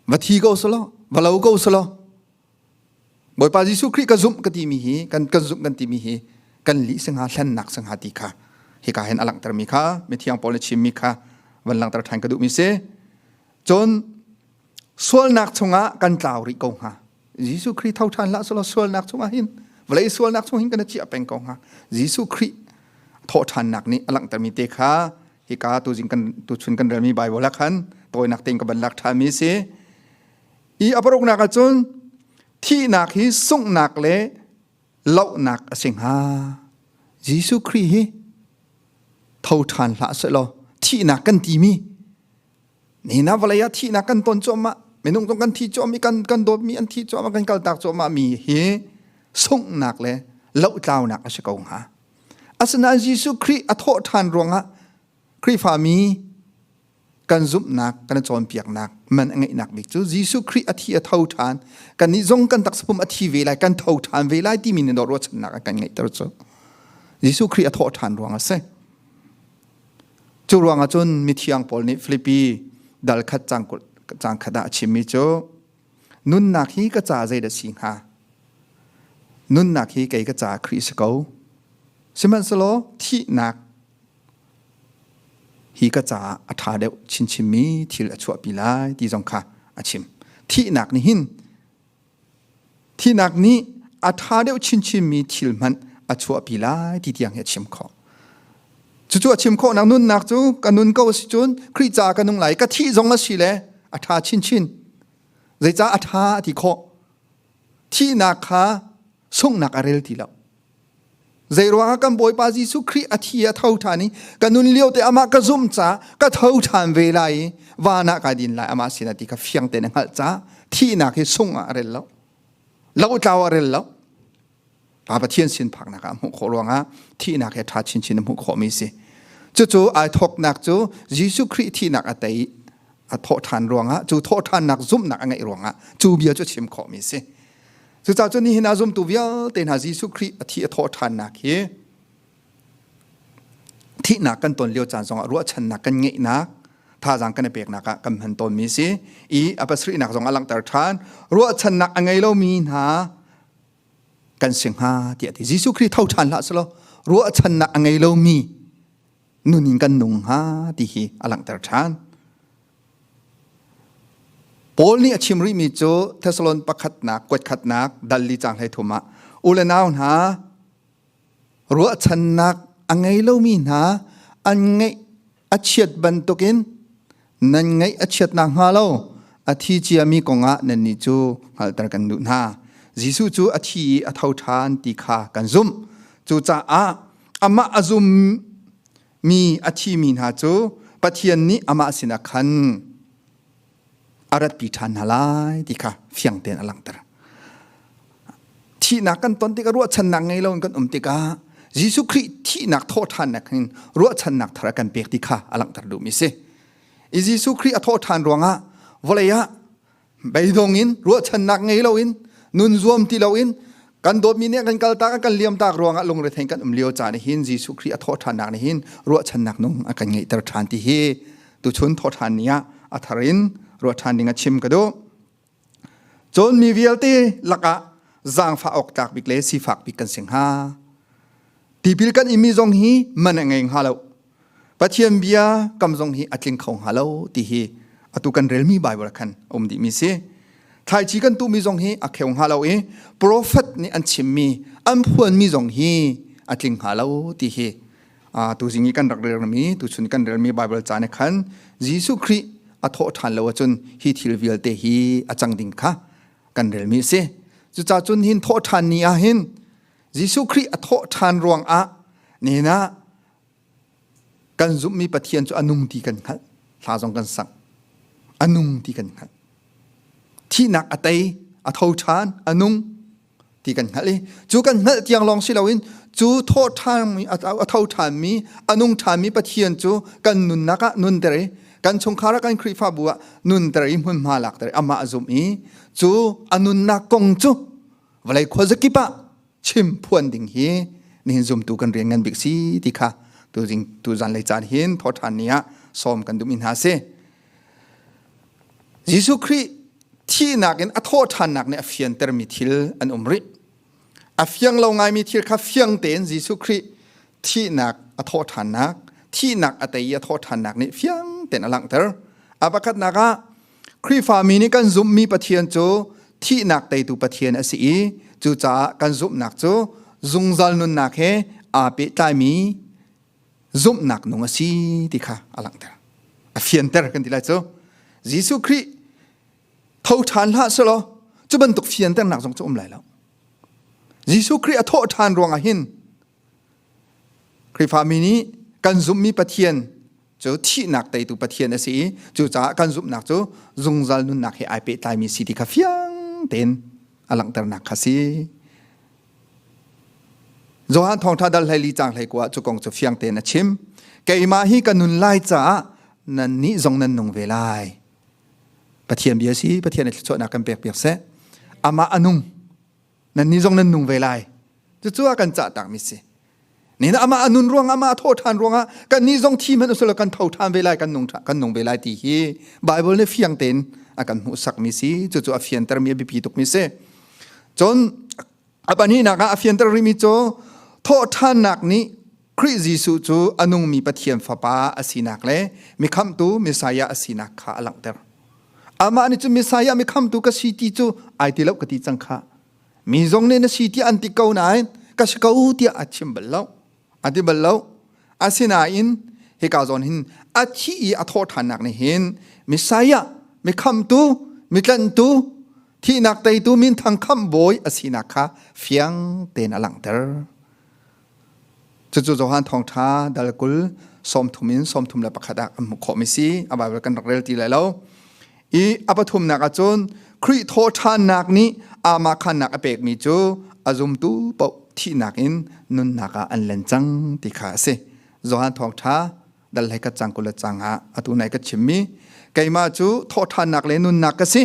va thi ko selaw va lo ko selaw Bawipa Jesuh Khrih ka zumh ka timi hi kan kan zumh kan timi hi kan li singa hlennak singa ti kha hika hen alangter mi kha mithiang paul na chim mi kha van langter than ka duh mi se cun sualnak chungah kan tlau rih ko hnga Jesuh Khrih tho ṭhan hlah sulaw sualnak chungah hin vawlei sualnak chung hin kan i ciah peng ko hnga Jesuh Khrih thawhṭhannak nih a langhtermi te kha hika tuzing kan tuchun kan relmi Baibal ah khan tawinak tein ka ban lak ṭhanmi si i a paruknak ah cun thihnak hi sunghnak le lohnak a si hnga Jesuh Khrih hi tho ṭhan hlah seh law thihnak kan timi Nina vawlei ah thihnak kan ton cuahmah minung zong kan thi cuahmah kan kan dawtmi an thi cuahmah kan kaltak cuahmah mi hi sunghnak le lotlaunak a si ko hnga asinain Jesuh Khrih a thawh ṭhan ruangah Khrihfa mi kan zumhnak kan i cawnpiaknak man a ngeihnak bik cu Jesuh Khrih a thi a tho ṭhan kannih zong kan taksapum a thi ve lai kan tho ṭhan ve lai timi nih ruahchannak a kan ngeihter cu Jesuh Khrih a thawh ṭhan ruang a si Cu ruang ahcun mithiang Paul nih Filipi dal khat cang, cang khat ah a chimmi cu nunnak hi ka ca zei da si hnga? Nunnak hi kei ka ca Khrih si ko. Sihmanhselaw thihnak hi ka caah a ṭha deuh chinchinmi thil a chuahpi lai ti zong kha a chim. Thihnak nih hin Thinak nih a ṭha deuh chinchinmi thil hmanh a chuahpi lai ti tiang hi a chim khawh. Cucu a chim khawhnak nunnak cu ka nun ko a si cun Khrih ca ka nung lai ka thih zong a si le a ṭha chinchin. Zeicah a ṭha ti khawh? Thihnak kha sunghnak a rel ti lo. Zeiruangah kan Bawipa Jesuh Khrih a thi a tho ṭhan i ka nun lio te amah ka zumh ca ka tho ṭhan ve lai i van ah kai din lai amah sinah ti kha fiang tein a hngalh ca thihnak hi sung ah a rel lo lo tlau a rel lo Pa Pathian sin phaknak ah hmuh khawh ruangah thihnak he ṭha chinchin a hmuh khawhmi si cucu ai thawknak cu Jesuh Khrih thihnak a tei a thawh ṭhan ruangah cu thawhṭhannak zumhnak a ngeih ruangah cu bia cu chim khawhmi si Cucaah cu nihin a zumtu vialte hna Jesuh Khrih a thi a thaw ṭhannak hi thihnak kan ton lio caan zongah ruahchannak kan ngeihnak thazaang kan i peknak ah kan hman tawnmi si i a pasrihnak zong a langhter ṭhan ruahchannak a ngei lomi hna kan si hnga tiah ti Jesuh Khrih tho ṭhan hlah selaw ruahchannak a ngei lomi nun in kan nung hnga ti hi a langhter ṭhan. Paul nih a chim rihmi cu Thessalon pakhatnak kuatkhatnak dalli cang hlei thum ah u le nau hna ruahchannak a ngei lomi hna an ngeih a chiat bantukin nan ngaih a chiat nakhnga lo a thi ciami kongah nannih cu hngalhter kan duh hna. Jesuh cu a thi i a tho ṭhan ti kha kan zumh. Cucaah amah a zum mi a thimi hna cu Pathian nih amah sinah khan a ratpi ṭhan hna lai ti kha fiang tein a langhter. thihnak kan ton tikah ruahchannak ngei lo in kan um tikah Jesuh Khrih thihnak thawhthannak in ruahchannak thar kan pek ti kha a langhter duhmi si i Jesuh Khrih a thawhthan ruangah vawlei ah beidong in ruahchannak ngei lo in nun zuam ti lo in kan dawtmi nih kan kal tak kan liam tak ruangah lungre thei kan um lio caan hin Jesuh Khrih a thawhthannak nih hin ruahchannak nung a kan ngeihter than ti hi tuchun thawhthan ni ah a thar in ruahchan ding a chim ka duh Cun mi vialte lakah zaangfah awk tlak bik le sifak bik kan si hnga. Tipil kan imi zong hi man a ngei hnga lo. Pathian bia kam zong hi a tling kho hnga lo ti hi atu kan relmi Bible khan um dih mi si. Thaici kan tu mi zong hi a kheu hnga lo i prophet nih an chimmi an phuan mi zong hi a tling hnga lo ti hi tuzing i kan rak relmi tuchun kan relmi Bible ca ne khan Jesuh Khrih a thawh ṭhan lo ahcun hi thil vialte hi a cang ding kha kan relmi si cuca cun hin thawh ṭhan ni ah hin Jesuh Khrih a thawh ṭhan ruang ah nihin ah kan zumhmi Pathian cu a nung ti kan hngalh hla zong kan sang a nung ti kan hngalh thihnak a tei a tho ṭhan a nung ti kan hngalh i cu kan hngalh tiang lawng si loin cu tho ṭhami a tho ṭhanmi a nung ṭhanmi Pathian cu kan nunnak ah nunter i kan chungkhar ah kan Khrihfabu ah nunter i hmunhma lakter i amah a zum i cu a nunnak kong cu vawlei khuazakip ah chim phuan ding hi nihin zumtu kan rian ngan bik si ti kha tuzan lei caan hin thoṭhan ni ah sawm kan duh mi hna si Jesuh Khrih thihnak in a thawhṭhannak nih a fiantermi thil an um rih. A fiang lo ngaimi thil kha fiang tein Jesuh Khrih thihnak a thawhṭhannak, thihnak a tei i a thawhṭhannak nih fiang tein a langhter. A pakhatnak ah Khrihfami nih kan zumhmi Pathian cu thihnak teitu Pathian a si i cucaah kan zumhnak cu zungzal nunnak he aa pehtlaimi zumhnak nung a si ti kha a langhter a fianter kan ti lai cu Jesuh Khrih tho ṭhan hlah selaw cu bantuk fianternak zong cu um lai lo Jesuh Khrih a thawh ṭhan ruangah hin Khrihfami nih kan zumhmi Pathian cu thihnak teitu Pathian a si i cucaah kan zumhnak cu zungzal nunnak he ai pehtlaimi si ti kha fiang tein a langhternak kha si Johan thawngtha dal hlei cang hlei kwa cu kong cu fiang te na chim keimah hi ka nun lai caah nan nih zong nan nung ve lai pathian bia si pathian ai thluachuahnak kan pek piak se amah anung nan nih zong nan nung ve lai cucu a kan cah tak mi si Ni na amah a nun ruangah amah a thaw ṭhan ruangah kannih zong thi man usula kan tho ṭhan ve lai kan nung kan nung ve lai ti hi Bible nih fiang tein a kan hmuhsakmi si cucu a fiantermi a biapi tukmi si cun a pahnihnak ah a fianter rihmi cu thawhṭhannak nih Khrih Jesuh cu a nungmi Pathian fapa a sinak le mikhamtu Messiah a sinak kha a langhter amah nih cu Messiah mikhamtu ka si ti cu ai ti lo ka ti cang khah mi zong nih na si tiah an ti ko nain ka si ko tiah a chim bal lo a ti bal lo asinain hika zawn hin a thi i a thawh ṭhannak nih hin Messiah mi khamtu mi tlanhtu thihnak teitu min thang kham bawi a sinak kha fiang tein a langhter Cucu Johan thawngṭha dal kul sawmthum in sawmthum le pakhat ah kan hmuh khawhmi si. A Baibal kan rak rel ti lai lo. I a pathumnak ah cun Khrih thawhṭhannak nih aamah khannak a pekmi cu a zumtu paoh thihnak in nunnak ah an len cang ti kha a si. Johan thawngṭha dal hlei ka cang kul le cang ah atu nai ka chimmi keimah cu thawhṭhannak le nunnak ka si.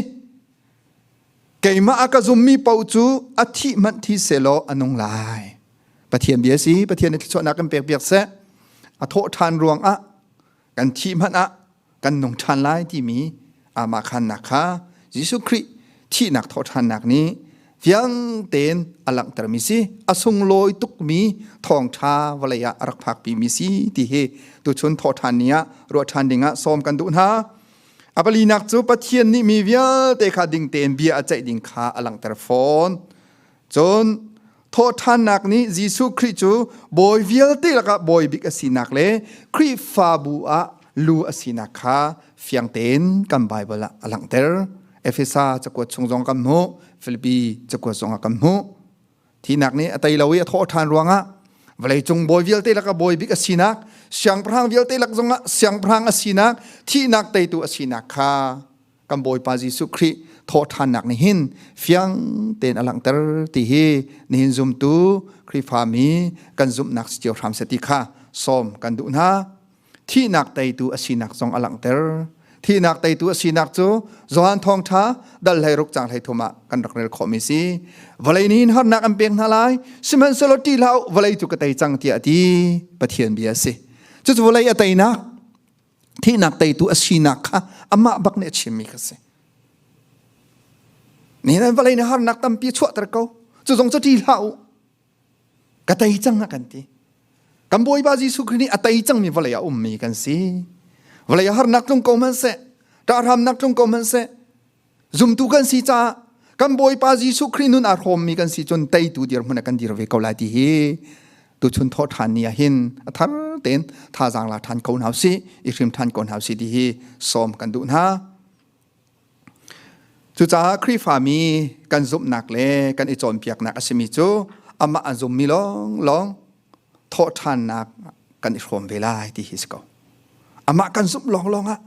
keimah a ka zummi paoh cu a thih manh thi selaw a nung lai pathian bia si pathian i thluachuahnak kan pek piak seh a thawh ṭhan ruangah kan thih hmanh ah kan nung ṭhan lai timi amah khannak kha Jesuh Khrih thihnak thawhṭhannak nih fiangtein a langhtermi si a sunglawi tukmi thawngṭha vawlei ah a rak phakpimi si ti hi tuchun thawhṭhan ni ah ruah ṭhan dingah sawm kan duh hna A palinak cu Pathian nih mi vialte kha ding tein bia a ceih ding kha a langhter fawn. Cun thawhṭhannak nih Jesuh Khrih cu bawi vialte lakah bawi bik a sinak le Khrihfabu ah lu a sinak kha fiang tein kan Baibal ah a langhter. Efesa cakuat chung zong kan hmuh, Filipi cakuat zong ah kan hmuh. Tinak nih a tei lo i a thawh ṭhan ruangah vawleicung bawi vialte lak a bawi bik a sinak siangpahrang vialte lak zongah siangpahrang a sinak thihnak teitu a sinak kha kan Bawipa Jesuh Khrih thawhṭhannak nih hin fiang tein a langhter ti hi nihin zumtu Khrihfami kan zumhnak si cio hram se ti kha sawm kan duh hna. thihnak teitu a sinak zong a langhter thihnak teitu a sinak cu Johan thawngtha dal hlei ruk chang hlei thum ah kan rak rel khawh mi si vawlei nih hin harnak an pek hna lai sihmanhsehlaw ti hlah vawlei cu ka tei cang tiah ti Pathian bia a si cucu vawlei a teinak thihnak teitu a sinak kha amah bak nih a chim mi kha si ni nan vawlei nih harnak tampi chuahter ko cu zong cu ti hlah u ka tei cang a kan ti kan bawipa jesuh khrih nih a tei cangmi vawlei ah ummi kan si vawlei ah harnak tlung ko hmanh seh ṭahramnak tlung ko hmanh seh zumtu kan si caah kan bawipa jesuh khrih nun aa hrawmmi kan si cun teitu dirhmun ah kan dir ve ko lai ti hi tuchun thaw ṭhan ni ah hin a thar tein thazaang la ṭhan ko hna u si i hrim ṭhan ko hna u si ti hi sawm kan duh hna Cucaah Khrihfami kan zumhnak le kan i cawnpiaknak a simi cu amah a zummi lawnglawng thawhṭhannak kan i hrawm ve lai ti hi si ko. Amah kan zumh lawnglawng ah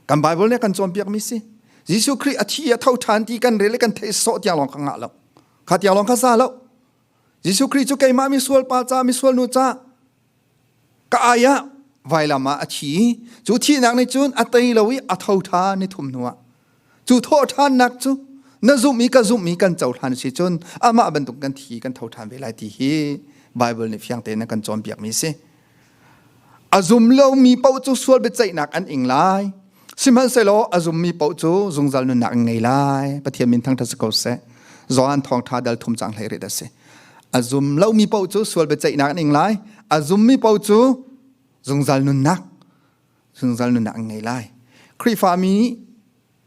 kan Baibal nih a kan cawnpiakmi si. Jesuh Khrih a thi i a tho ṭhan ti kan rel i kan theih sawh tiang lawng ka ngah lo. Kha tiang lawng ka za lo. Jesuh Khrih cu keimah misual pa ca, misual nu ca, ka ai ah vailam ah a thi cu thihnak ni cun a tei lo i a tho ṭhan ni thum hnuah cu thawhṭhannak cu na zumh i ka zumh i kan cohlan a si cun amah bantuk kan thi kan tho ṭhan ve lai ti hi Baibal nih fiang tein a kan cawnpiakmi a si a zum lomi paoh cu sual biaceihnak an ing lai Sihmanhsehlaw a zummi paoh cu zungzal nunnak in ngei lai. Pathian min thangṭhat si ko seh. Johan thawngṭha dal thum cang hlei rit a si. A zum lomi paoh cu sual biaceihnak an ing lai. A zummi paoh cu zungzal nunnak zungzal nunnak an ngei lai. Khrihfami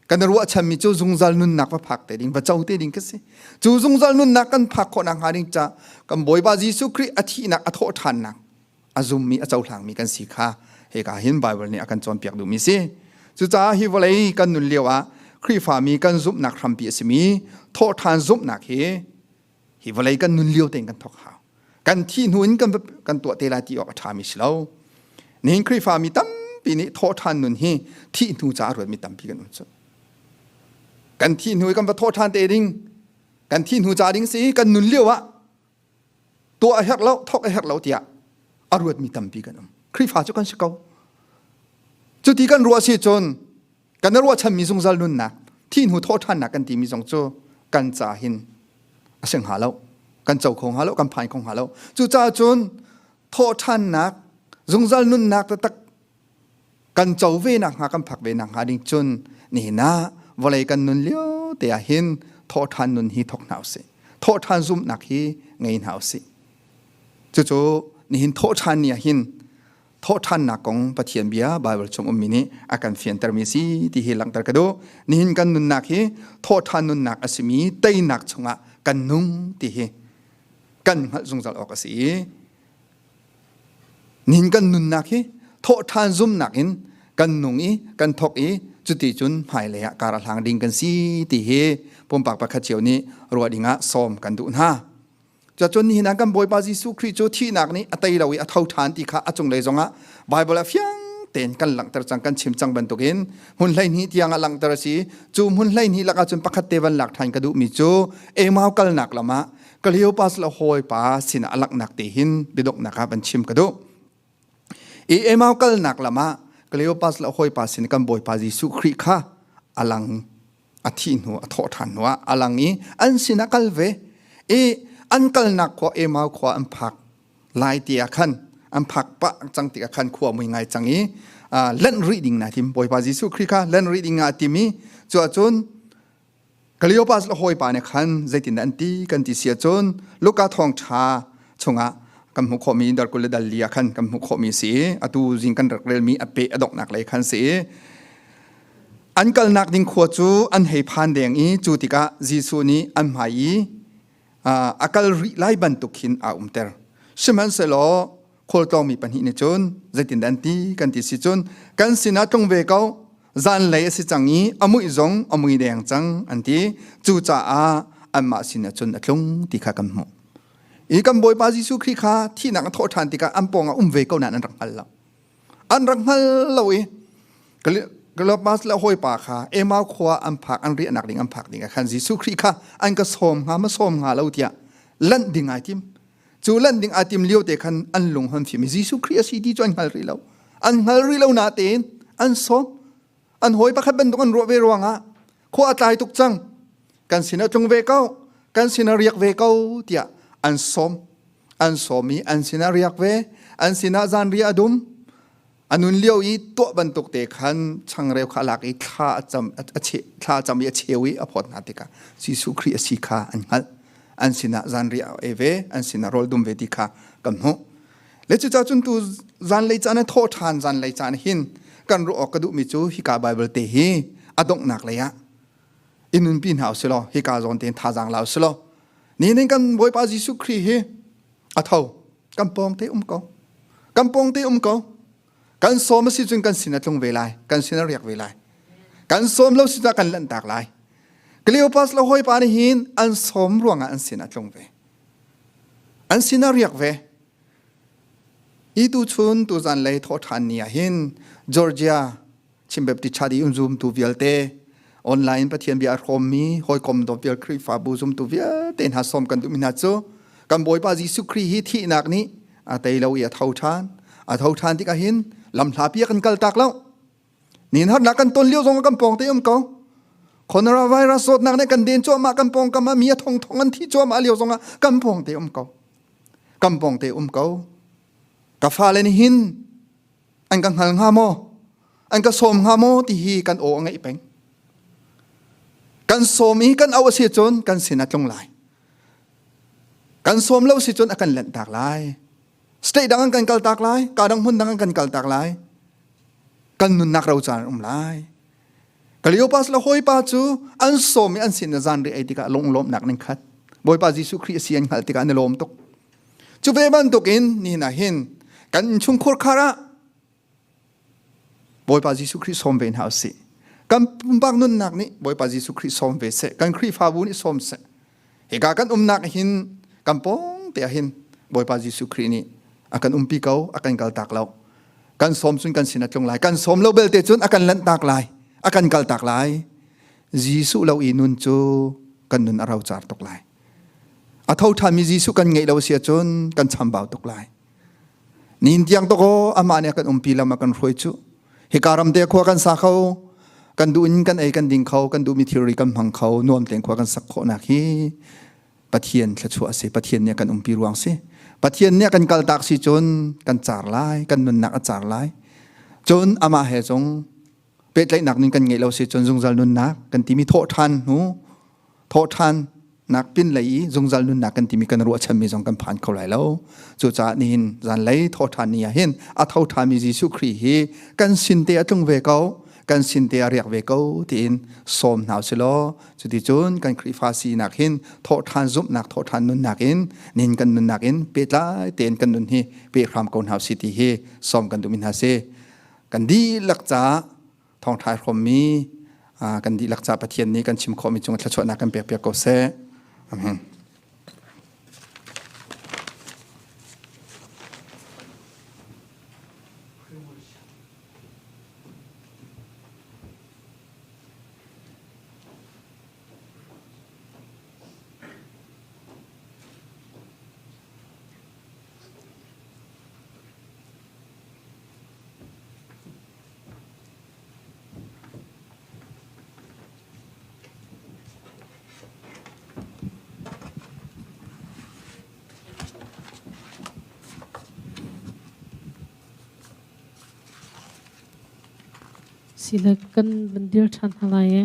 kan i ruahchanmi cu zungzal nunnak va phak te ding, va co te ding ka si. Cu zungzal nunnak kan phak khawh nakhnga ding ca kan Bawipa Jesuh Khrih a thihnak a thawh ṭhannak a zummi a cohlangmi kan si kha hika hin Baibal nih a kan cawnpiak duhmi si cucaah hi vawlei kan nun lio ah Khrihfami kan zumhnak hrampi a simi thawhṭhan zumhnak hi hi vawlei kan nun lio tein kan thawk hau kan thi hnu in kan kan tuah te lai ti awk a ṭhami si lo nihin Khrihfami tampi nih thawhṭhan nun hi thih hnu caah ruatmi tampi kan um cu kan thi hnu i kan va thawhṭhan te ding kan thi hnu ca ding si kan nun lio ah tuah a herh lo thawk a herh lo tiah a ruatmi tampi kan um Khrihfa cu kan si ko cuti kan ruah si cun kan ruahchanmi zungzal nunnak thihnu thawhthannak kan timi zong cu kan ca hin a sing hnga lo kan co kho hnga lo kan phai kho hnga lo cucaah cun thawhthannak zungzal nunnak taktak kan co ve nak hnga kan phak ve nak hnga ding cun nihin ah vawlei kan nun lio te ah hin thawhthan nun hi thok hna usih thawhthan zum nak hi ngei hna usih cucu nihin thawhthan ni ah hin thawhthannak kong pathian bia bible chung ummi nih a kan fianter mi si ti hi langhter ka du nihin kan nunnak hi thawhthan nunnak a simi teinak chungah kan nung ti hi kan hngalh zungzal awk a si i Nihin kan nunnak hi thawhṭhan zumnak in kan nung i kan thok i cuti cun hmailei ah kar a hlang ding kan si ti hi pumpak pakhat cio nih ruah ding ah sawm kan duh hna. Cuacun nihin ah kan Bawipa Jesuh Khrih cu thihnak nih a tei lo i a tho ṭhan ti kha a cunglei zongah Baibal ah fiang tein kan langhter cang kan chim cang bantukin hmun hleihnih tiang a langhter a si cu hmun hleihnih lakah cun pakhat te van lak ṭhan ka duhmi cu Emau kalnak lam ah Cleopas le hawipa sinah a laknak te hin biadoknak ah van chim ka duh. I emau kalnak lamah Cleopas le hawipa sin kan bawipa Jesuh Khrih kha alang a thi hnu a thawh ṭhan hnu ah alang i an sinah kal ve i an kalnak khua emau khua an phak lai ti ah khan an phak pah cang ti ah khan khua mui ngai cang i len rih ding na tim bawipa Jesuh Khrih kha len rih ding ah tim i cuah cun Cleopas le hawipa nih khan zeitindah an ti kan ti si ahcun Luka thawngṭha chungah kan hmuh khawhmi dar kul le dal li ah khan kan hmuh khawhmi a si i atu zing kan rak relmi a peh a donghnak lei khan si i an kalnak ding khua cu an hei phan deng i cu tikah Jesuh nih an hmai i a kal rih lai bantuk khin a umter sihmanhsehlaw khualtlawngmi pahnih nih cun zeitindah an ti kan ti si cun kan sinah tlung ve ko zanlei a si cang i a muih zong a mui deng cang an ti cucaah anmah sinah cun a tlung ti kha kan hmuh i kan bawipa jesuh khrih kha thihnak a thawh ṭhan tikah an pawngah um ve ko nan an rak hngal lo an rak hngal lo i Columbus le hawipa kha Emau khua an phak an riahnak ding an phak ding ah khan Jesuh Khrih kha an ka sawm hnga ma sawm hnga lo tiah lanh ding ai tim cu lanh ding ai tim lio te khan an lung han fim i Jesuh Khrih a si ti cu an hngal rih lo an hngal rih lo na tein an sawm an hawi pakhat bantuk an ruah ve ruangah khua a tlai tuk cang kan sin a tlung ve ko kan sin a riak ve ko tiah an sawm an sawm i an sin a riak ve an sinah zanriah a dum anun lio i tuah bantuk te khan changreu kha lak i thla a cam a che thla a cam i a cheu i a phawt hna tikah Jesuh Khrih a si kha an hngalh an sinah zanriah a e ve an sinah rawl dum ve ti kha kan hmuh le cu cacun tu zanlei caan thawh ṭhan zanlei caan hin kan ruah awk ka duhmi cu hika Bible te hi a donghnak lei ah in nunpi hna usilaw hika zawn tein thazaang la usilaw ni ning kan Bawipa Jesuh Khrih hi a tho kan pawng te um ko kan pawng te um ko kan som a si cun kan sin a tlung ve lai kan sin a riak ve lai kan som lo si kan lanhtak lai Cleopas le hawipa nih hin an som ruangah an sin a tlung ve an sin a riak ve i tu chun tu zan lei thaw ṭhan ni ah hin Georgia chimbepti chadi um zoom tu vialte online pathian bia rom mi hoikom do vial khrihfabu zum tu vialte hna som kan tu mi hna chu kan boipa jesu khrist hi thi nak ni a tei lo i a tho than a tho than ti ka hin lam hla pia kan kal tak lo nin har na kan ton liu zong kan pong te um ko corona virus sot nak ne kan den cho ma kan pong kama mi a thong thong an thi cho ma liu zong kan pong te um ko kan pong te um ko ka fa le ni hin an ka hngal hnga maw an ka sawm hnga maw ti hi kan aw a ngeih peng kan sawm i kan au a si cun kan sin a tlung lai kan sawm lo si cun a kan lanh tak lai state dang an kan kal tak lai ka dang hmun dang an kan kal tak lai kan nunnak ro caan um lai Cleopas la hoipa cu an som i an sin na zan ri ai tikah lunglawm nak ning khat Bawipa Jesuh Khrih a si an hngal tikah an lawm tuk Cu ve bantukin nihin ah hin kan innchungkhur khar ah Bawipa Jesuh Khrih sawm ve hna u sih. Kan pumpak nunnak nih Bawipa Jesuh Khrih sawm ve seh. Kan Khrihfabu nih sawm seh. Hika kan umnak hin kan pawngte ah hin Bawipa Jesuh Khrih nih a kan umpi ko, a kan kaltak lo. Kan sawm cun kan sin a tlung lai. Kan sawm lo belte cun a kan lanhtak lai, a kan kaltak lai. Jesuh lo i nun cu kan nun a rocar tuk lai. A tho ṭhanmi Jesuh kan ngeih lo a si ahcun kan chambau tuk lai. Nin tiang to ko amah nih kan umpi lam a kan hruai cu. Hika ram te khua kan sa kho, kan duh in kan ei kan ding kho, kan duhmi thilri kan hmang kho, nuam tein khua kan sak khawhnak hi Pathian thluachuah a si. Pathian nih kan umpi ruang si. Pathian nih kan kaltak si cun kan car lai, kan nunnak a car lai. Cun amah he cung pehtlaihnak ning kan ngeih lo se cun zungzal nunnak kan timi thawh ṭhan hnu thawh ṭhan nak pin lei i zungzal nunnak kan timi kan ruahchanmi zong kan phan kho lai lo cucaah nihin zan lei thaw ṭhan ni ah hin a tho ṭhami Jesuh Khrih hi kan sin te a tlung ve ko kan sin te a riak ve ko tiin sawm hna u silaw cuti cun kan Khrihfa sinak hin thawh ṭhan zumhnak thawh ṭhan nunnak in nin kan nunnak in petlai tein kan nun hi pe hram ko hna u si ti hi sawm kan dumin hna si
kan dihlak ca thawngtha hrawmmi kan dihlak ca pathian nih kan chim khawhmi cung thluachuahnak kan pekpiak ko seh amen Sinak kan van dir ṭhan hna lai i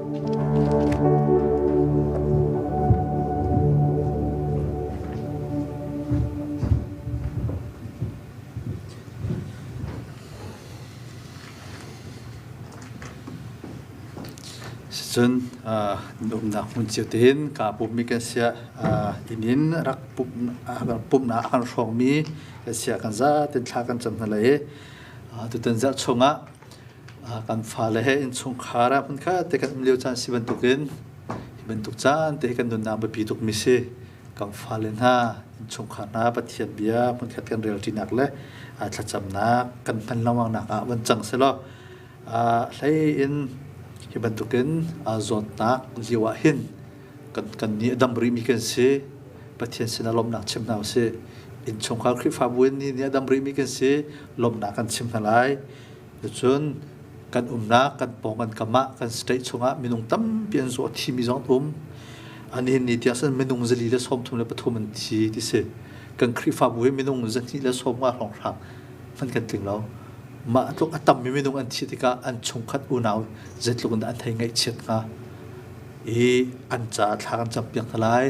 Cun umnak hmun cio te hin kaa pummi kan siah inn in rak pumhnak a kan hrawngmi kan siah kan zaatin thla kan cam hna lai i tutan zarh chung ah kan fale he innchungkhar ah hmunkhatte kan um lio caan si bantukin hi bantuk caan te hi kan nunnak biapi tukmi si. Kan fale hna, innchungkhar hna Pathian bia hmunkhat kan relṭinak le thlacamnak kan hman lengmangnak ah van cang selaw hlei in hi bantukin zawtnak lio ah hin kan kan nih a dam rimi kan si Pathian sin a lawmhnak chim hna usih innchungkhar Khrihfabu in nih a dam rimi kan si lawmhnak kan chim hna lai cun kan umnak kan pawng kan kam ah kan state chungah minung tampi an zuah thimi zong um an hin ni tiah san minung zali le sawmthum le pathum an thi ti si kan Khrihfabu hi minung zahnih le sawm nga hrawng hrang fan kan tling lo mah tluk a tammi minung an thi tikah an chungkhat unau zeitluk in an thei ngaihchiat hnga i an caah thla kan cam piak hna lai.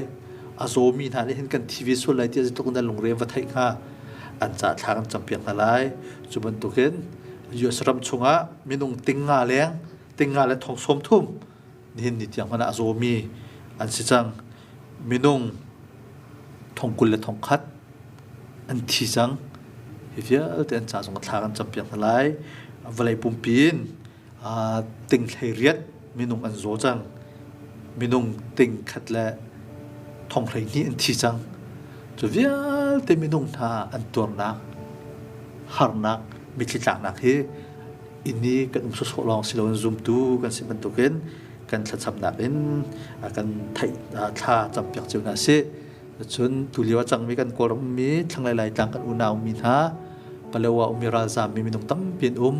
A zawmi hna nih hin kan thi ve sual lai tiah zeitluk in an lungre va theih hnga an caah thla kan cam piak hna lai. Cu bantukin US ram chungah minung tinga leng tinga le thong sawm thum nihin ni tiang hmanh ah a zawmi an si cang. Minung thong kul le thong khat an thi cang. Hi vialte an caah zong thla kan cam piak hna lai. Vawlei pumpi in aa ting hlei minung an zaw cang. Minung ting khat le thong hlei hnih an thi cang. Cu vialte minung hna an tuarnak, harnak, mitthli tlaknak hi inni kan um sawsawh lawng si loin zumtu kan si bantukin kan thlacamnak in a kan theih thla campiak cio hna si. Cun tulio a cangmi kan Kawlram ummi thlanglei Laitlang kan unau ummi hna Palewa ummi ralzaam mi minung tampi an um.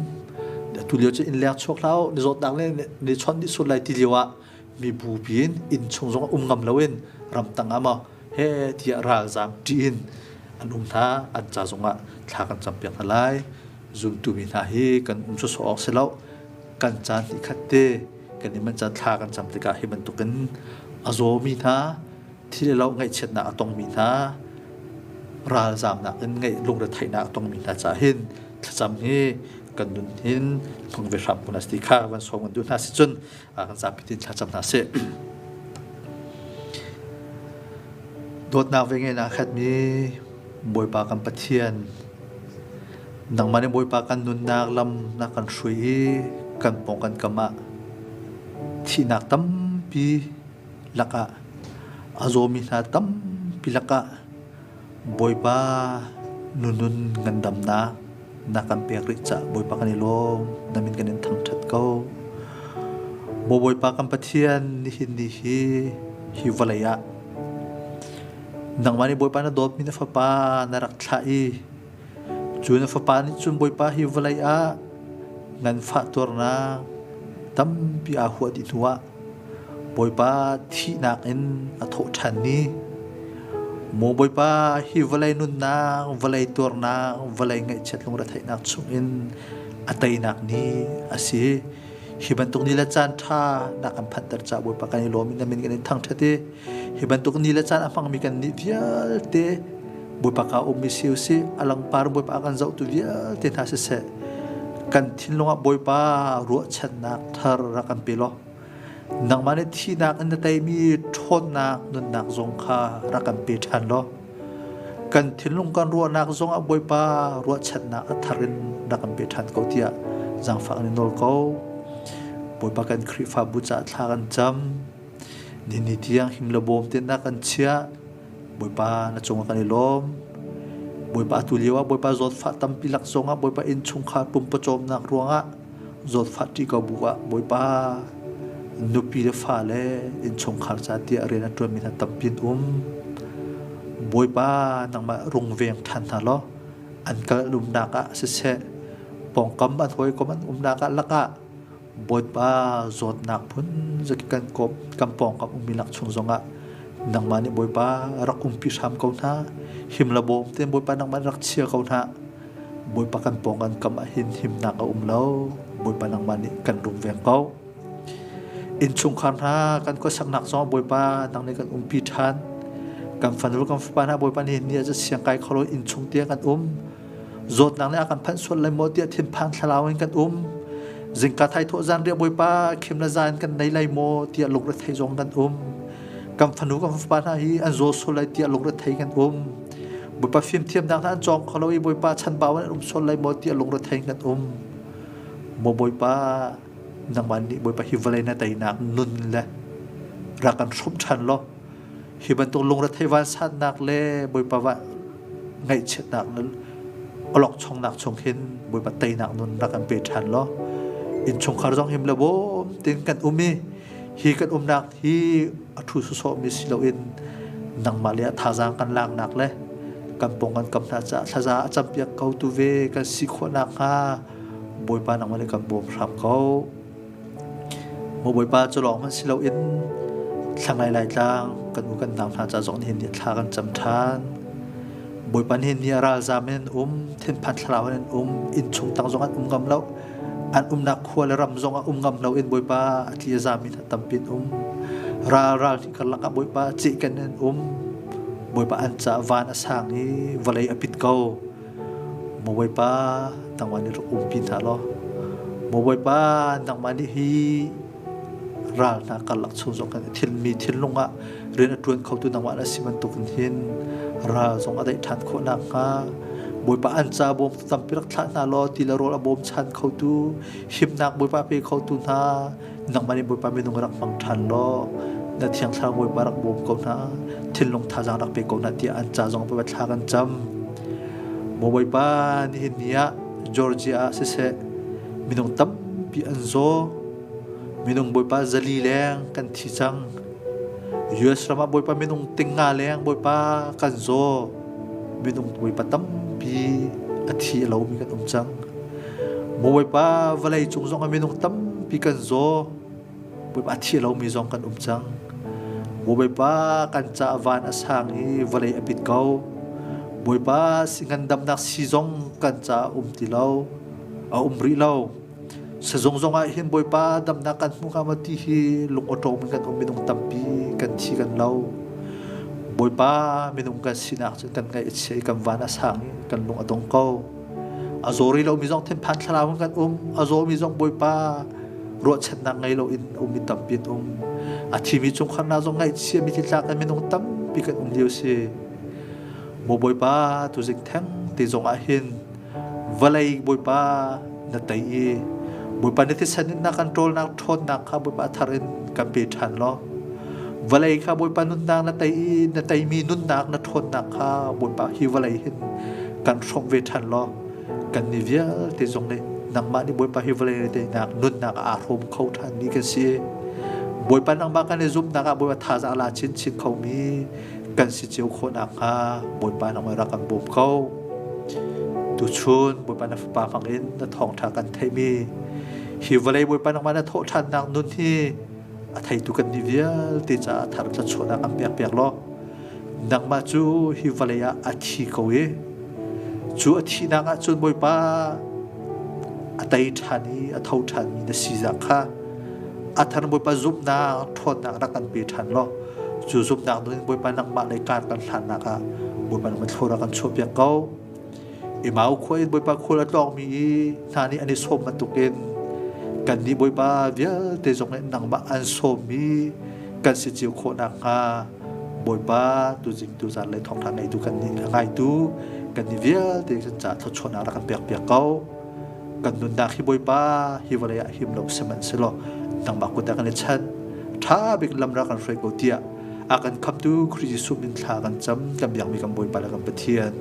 Tulio cu inn leng chuak hlah ni zawtnak le ni chon ni sut lai ti lio ah mi bupi in inn chung zong um ngam loin ramtang ah maw he tiah ralzaam ṭih in an um hna an ca zong ah thla kan cam piak hna lai zumtu mi hna hi kan um cu sawh awk si lo kan caan ni khat te kan i man caan thla kan cam tikah hi bantukin a zawmi hna Thil le lo ngaihchiatnak a tongmi hna, ralzaamnak in ngeih lungretheihnak a tongmi hna caah hin thlacam hi kan nun hin thong ve hram kun a si ti kha van sawm kan duh hna si cun kan zapi tin thlacam hna sih. Dawtnak ve ngai na khatmi Bawipa kan Pathian nangmah nih Bawipa kan nunnak lam na kan hrui i kan pawng kan kam ah thihnak tampi lakah a zawmi hna tampi lakah Bawipa nunun ngandamnak na kan pek rih caah Bawipa kan i lawm namin kan in thangṭhat ko. Maw Bawipa kan Pathian nihin ni hi hi vawlei ah nangmah nih Bawipa na dawtmi na fapa na rak thlah i cu na fapa nih cun Bawipa hi vawlei ah nganfah tuarnak tampi aa huah dih hnuah Bawipa thihnak in a thawh ṭhan i, Maw Bawipa, hi vawlei nunnak, vawlei tuarnak, vawlei ngaihchiat lungretheihnak chungin a teinak ni a si. Hi bantuk ni le caan ṭha na kan phanter caah Bawipa kan i lawm i na min kan in thangṭhat i Hi bantuk ni le caan a hmangmi kan nih vialte Bawipa ka ummi si usih alangpar Bawipa kan zohtu vialte hna siseh kan thinlung ah Bawipa ruahchannak thar rak kan pe law nangmah nih thihnak in na teimi ṭhawnnak nunnak zong kha rak kan pe ṭhan law kan thinlung kan ruahnak zong ah Bawipa ruahchannak a thar in rak kan pe ṭhan ko tiah zangfak in nawl ko Bawipa kan Khrihfabu caah thla kan cam Nini tiang himlabawm tenak kan chiah. Bawipa na cungah kan i lawm. Bawipa atu lio ah Bawipa zawtfah tampi lak zongah Bawipa innchungkhar pumpacawmnak ruangah zawtfah ṭi ko bu ah Bawipa nupi le fale innchungkhar ca tiah rian a ṭuanmi hna tampi an um. Bawipa nangmah rungveng ṭhan hna law an kal umnak ah siseh pawngkam an hawikom an umnak ah lakah Bawipa zawtnak phun kan kan pawngkam ummi lak chung zongah nangmah nih Bawipa rak umpi hram ko hna him le bawm te Bawipa nangmah rak chia ko hna Bawipa kan pawngkan kam ah hin himnak a um lo Bawipa nangmah nih kan rungveng ko innchungkhar hna kan khuasaknak zong Bawipa nang nih kan umpi ṭhan kan fanul kan fapa hna Bawipa nihin ni ah siang kai kholo innchung tiang kan um zawtnak nih a kan phanh sual lai maw tiah thinphang thlarau in kan um zingka thai thawh zan riah bawipa khim le zan kan nei lai maw tiah lungrethei zong kan um kan fanu kan fapa hna hi an zaw sual lai tiah lungrethei kan um bawipa fimthiam nak hna an cawng kho lo i bawipa chan ba an um sual lai maw tiah lungrethei kan um maw bawipa nangman nih bawipa hi vawlei na teinak nun le ra kan hrum ṭhan law Hi bantuk lungrethei vansatnak le Bawipa va ngaihchiatnak le olokchongnak chung hin Bawipa teinak nun rak kan pe ṭhan law innchungkhar zong him le bawm tein kan um i hi kan umnak hi a ṭhu sawsawhmi si loin nangmah le ah thazaang kan laknak le kan pong kan kam hna caah thlaza a campiak ko tu ve kan si khawh nakhnga Bawipa nangmah le kan bawm hram ko. Maw Bawipa cu lawng hmanh si loin thlangai Laitlang kan u kan nau hna ca zong nihin ni thla kan cam ṭhan. Bawipa nihin ni a ralzam in an um, thinphan thlarau in an um, innchung tang zong an um ngam lo. An umnak khua le ram zong a um ngam loin Bawipa a tli a zami hna tampi an um. Ral ral hi karlak ah Bawipa cihken in an um. Bawipa an caah van a sang i vawlei a pit ko. Mabawipa nangmah nih rak umpi hna law Mabawipa nangmah nih hi ral hna karlak chung zong kan i thil mi thinlung ah rian a ṭuan khotu nangmah na si bantukin hin ral zong a daih ṭhan khawh nakhnga Bawipa an ca bawm tu tampi rak thlah hna law ti le rawl a bawm chan khotu himnak Bawipa pe khotu hna nangmah nih Bawipa minung rak hmang ṭhan law na thiang thlarau Bawipa rak bawm ko hna thinlung thazaang rak pe ko hna tiah an ca zong Bawipa thla kan cam maw Bawipa nihin ni ah Georgia ah siseh minung tampi an zaw minung Bawipa zali leng kan thi cang US ram ah Bawipa minung ting nga leng Bawipa kan zaw minung puipa tampi a thi lomi kan um cang bawipa vawlei cung zong ah minung tampi kan zaw bawipa a thi lomi zong kan um cang bawipa kan ca van a sang i vawlei a pit ko bawipa si ngandamnak si zong kan ca a um ti lo a um rih lo Sazong zong ah hin Bawipa damnak kan hmu hnga ma ti hi lungawṭawm in kan um minung tampi kan thi kan lo. Bawipa minung kan sinak cu kan ngaih a chia i kan van a sang i kan lung a dong ko. A zori lomi zong thinphan thlarau in kan um. A zawmi zong Bawipa ruahchannak ngei loin um i tampi an um. A thimi chungkhar na zong ngaihchia mi thitlak in minung tampi kan um lio si. Mo Bawipa tu zik theng te zong ah hin vawlei Bawipa na tei i Bawipa na thisen na kan ṭawlnak ṭhawnnak kha Bawipa thar in kan pe ṭhan law vawlei kha Bawipa nunnak na tei i na teimi nunnak na ṭhawnnak kha Bawipa hi vawlei hin kan hrawmh ve ṭhan law kan ni vialte zong nih nangmah nih Bawipa hi vawlei na teinak nunnak aa hrawm kho ṭhan mi kan si Bawipa nangmah kan i zumhnak ah Bawipa thazaang la chinchin kho mi kan si cio khawh nakhnga Bawipa nang ra kan bawm ko. Tuchun Bawipa na fapa hmang in na thawngṭha kan theimi hi vawlei Bawipa nangmah na thawh ṭhannak nun hi a theitu kan ni vialte caah thar thluachuahnak a hmiak piak law nangmah cu hi vawlei ah a thi ko i cu a thihnak ah cun Bawipa a tei ṭhan i a tho ṭhanmi na si zang kha a thar Bawipa zumhnak ṭhawnnak rak kan pe ṭhan law cu zumhnak nun Bawipa nangmah le kar kan hlannak ah Bawipa nangmah thlura kan chuahpiak ko Emau khua in Bawipa khul a tlawngmi i hna nih an i sawm bantukin kannih Bawipa vialte zong nih nangmah an sawmmi kan si cio khawh nakhnga Bawipa tuzingtu zan le thawngṭha ngeitu kannih kha ngaitu kannih vialte kan caah thluachuahnak rak kan pekpiak ko kan nunnak hi bawipa hi vawlei ah him lo sihmanhsehlaw nangmah kut ah kan i chat ṭha bik lamra kan hruai ko tiah a kan khamtu Khrih Jesuh min thla kan cam kan biakmi kan bawipa le kan Pathian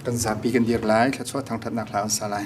Kan zapi kan dir lai, thluachuah thangṭhatnak hla an sa lai.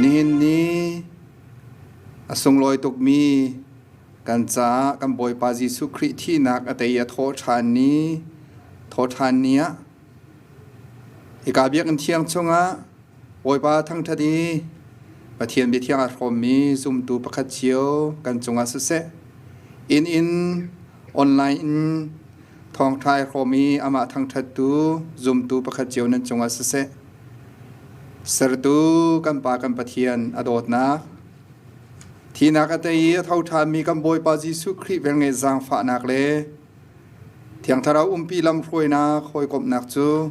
Nihin ni a sunglawi tukmi kan caah kan Bawipa Jesuh Khrih thihnak a tei a thawhṭhan ni thawhṭhan ni ah hika biakinn thiang chungah Bawipa thangṭhat i Pathian biathiang a hrawmmi zumtu pakhat cio kan cungah siseh inn in online in Thawngṭha i hrawm i amah thangṭhattu zumtu pakhat cio nan cungah siseh. Sertu kan Pa kan Pathian a dawtnak Thinak a tei i a tho ṭhami kan Bawipa Jesuh Khrih velnge zaangfahnak le Thiang Thlarau umpi lamhruainak hawikomhnak cu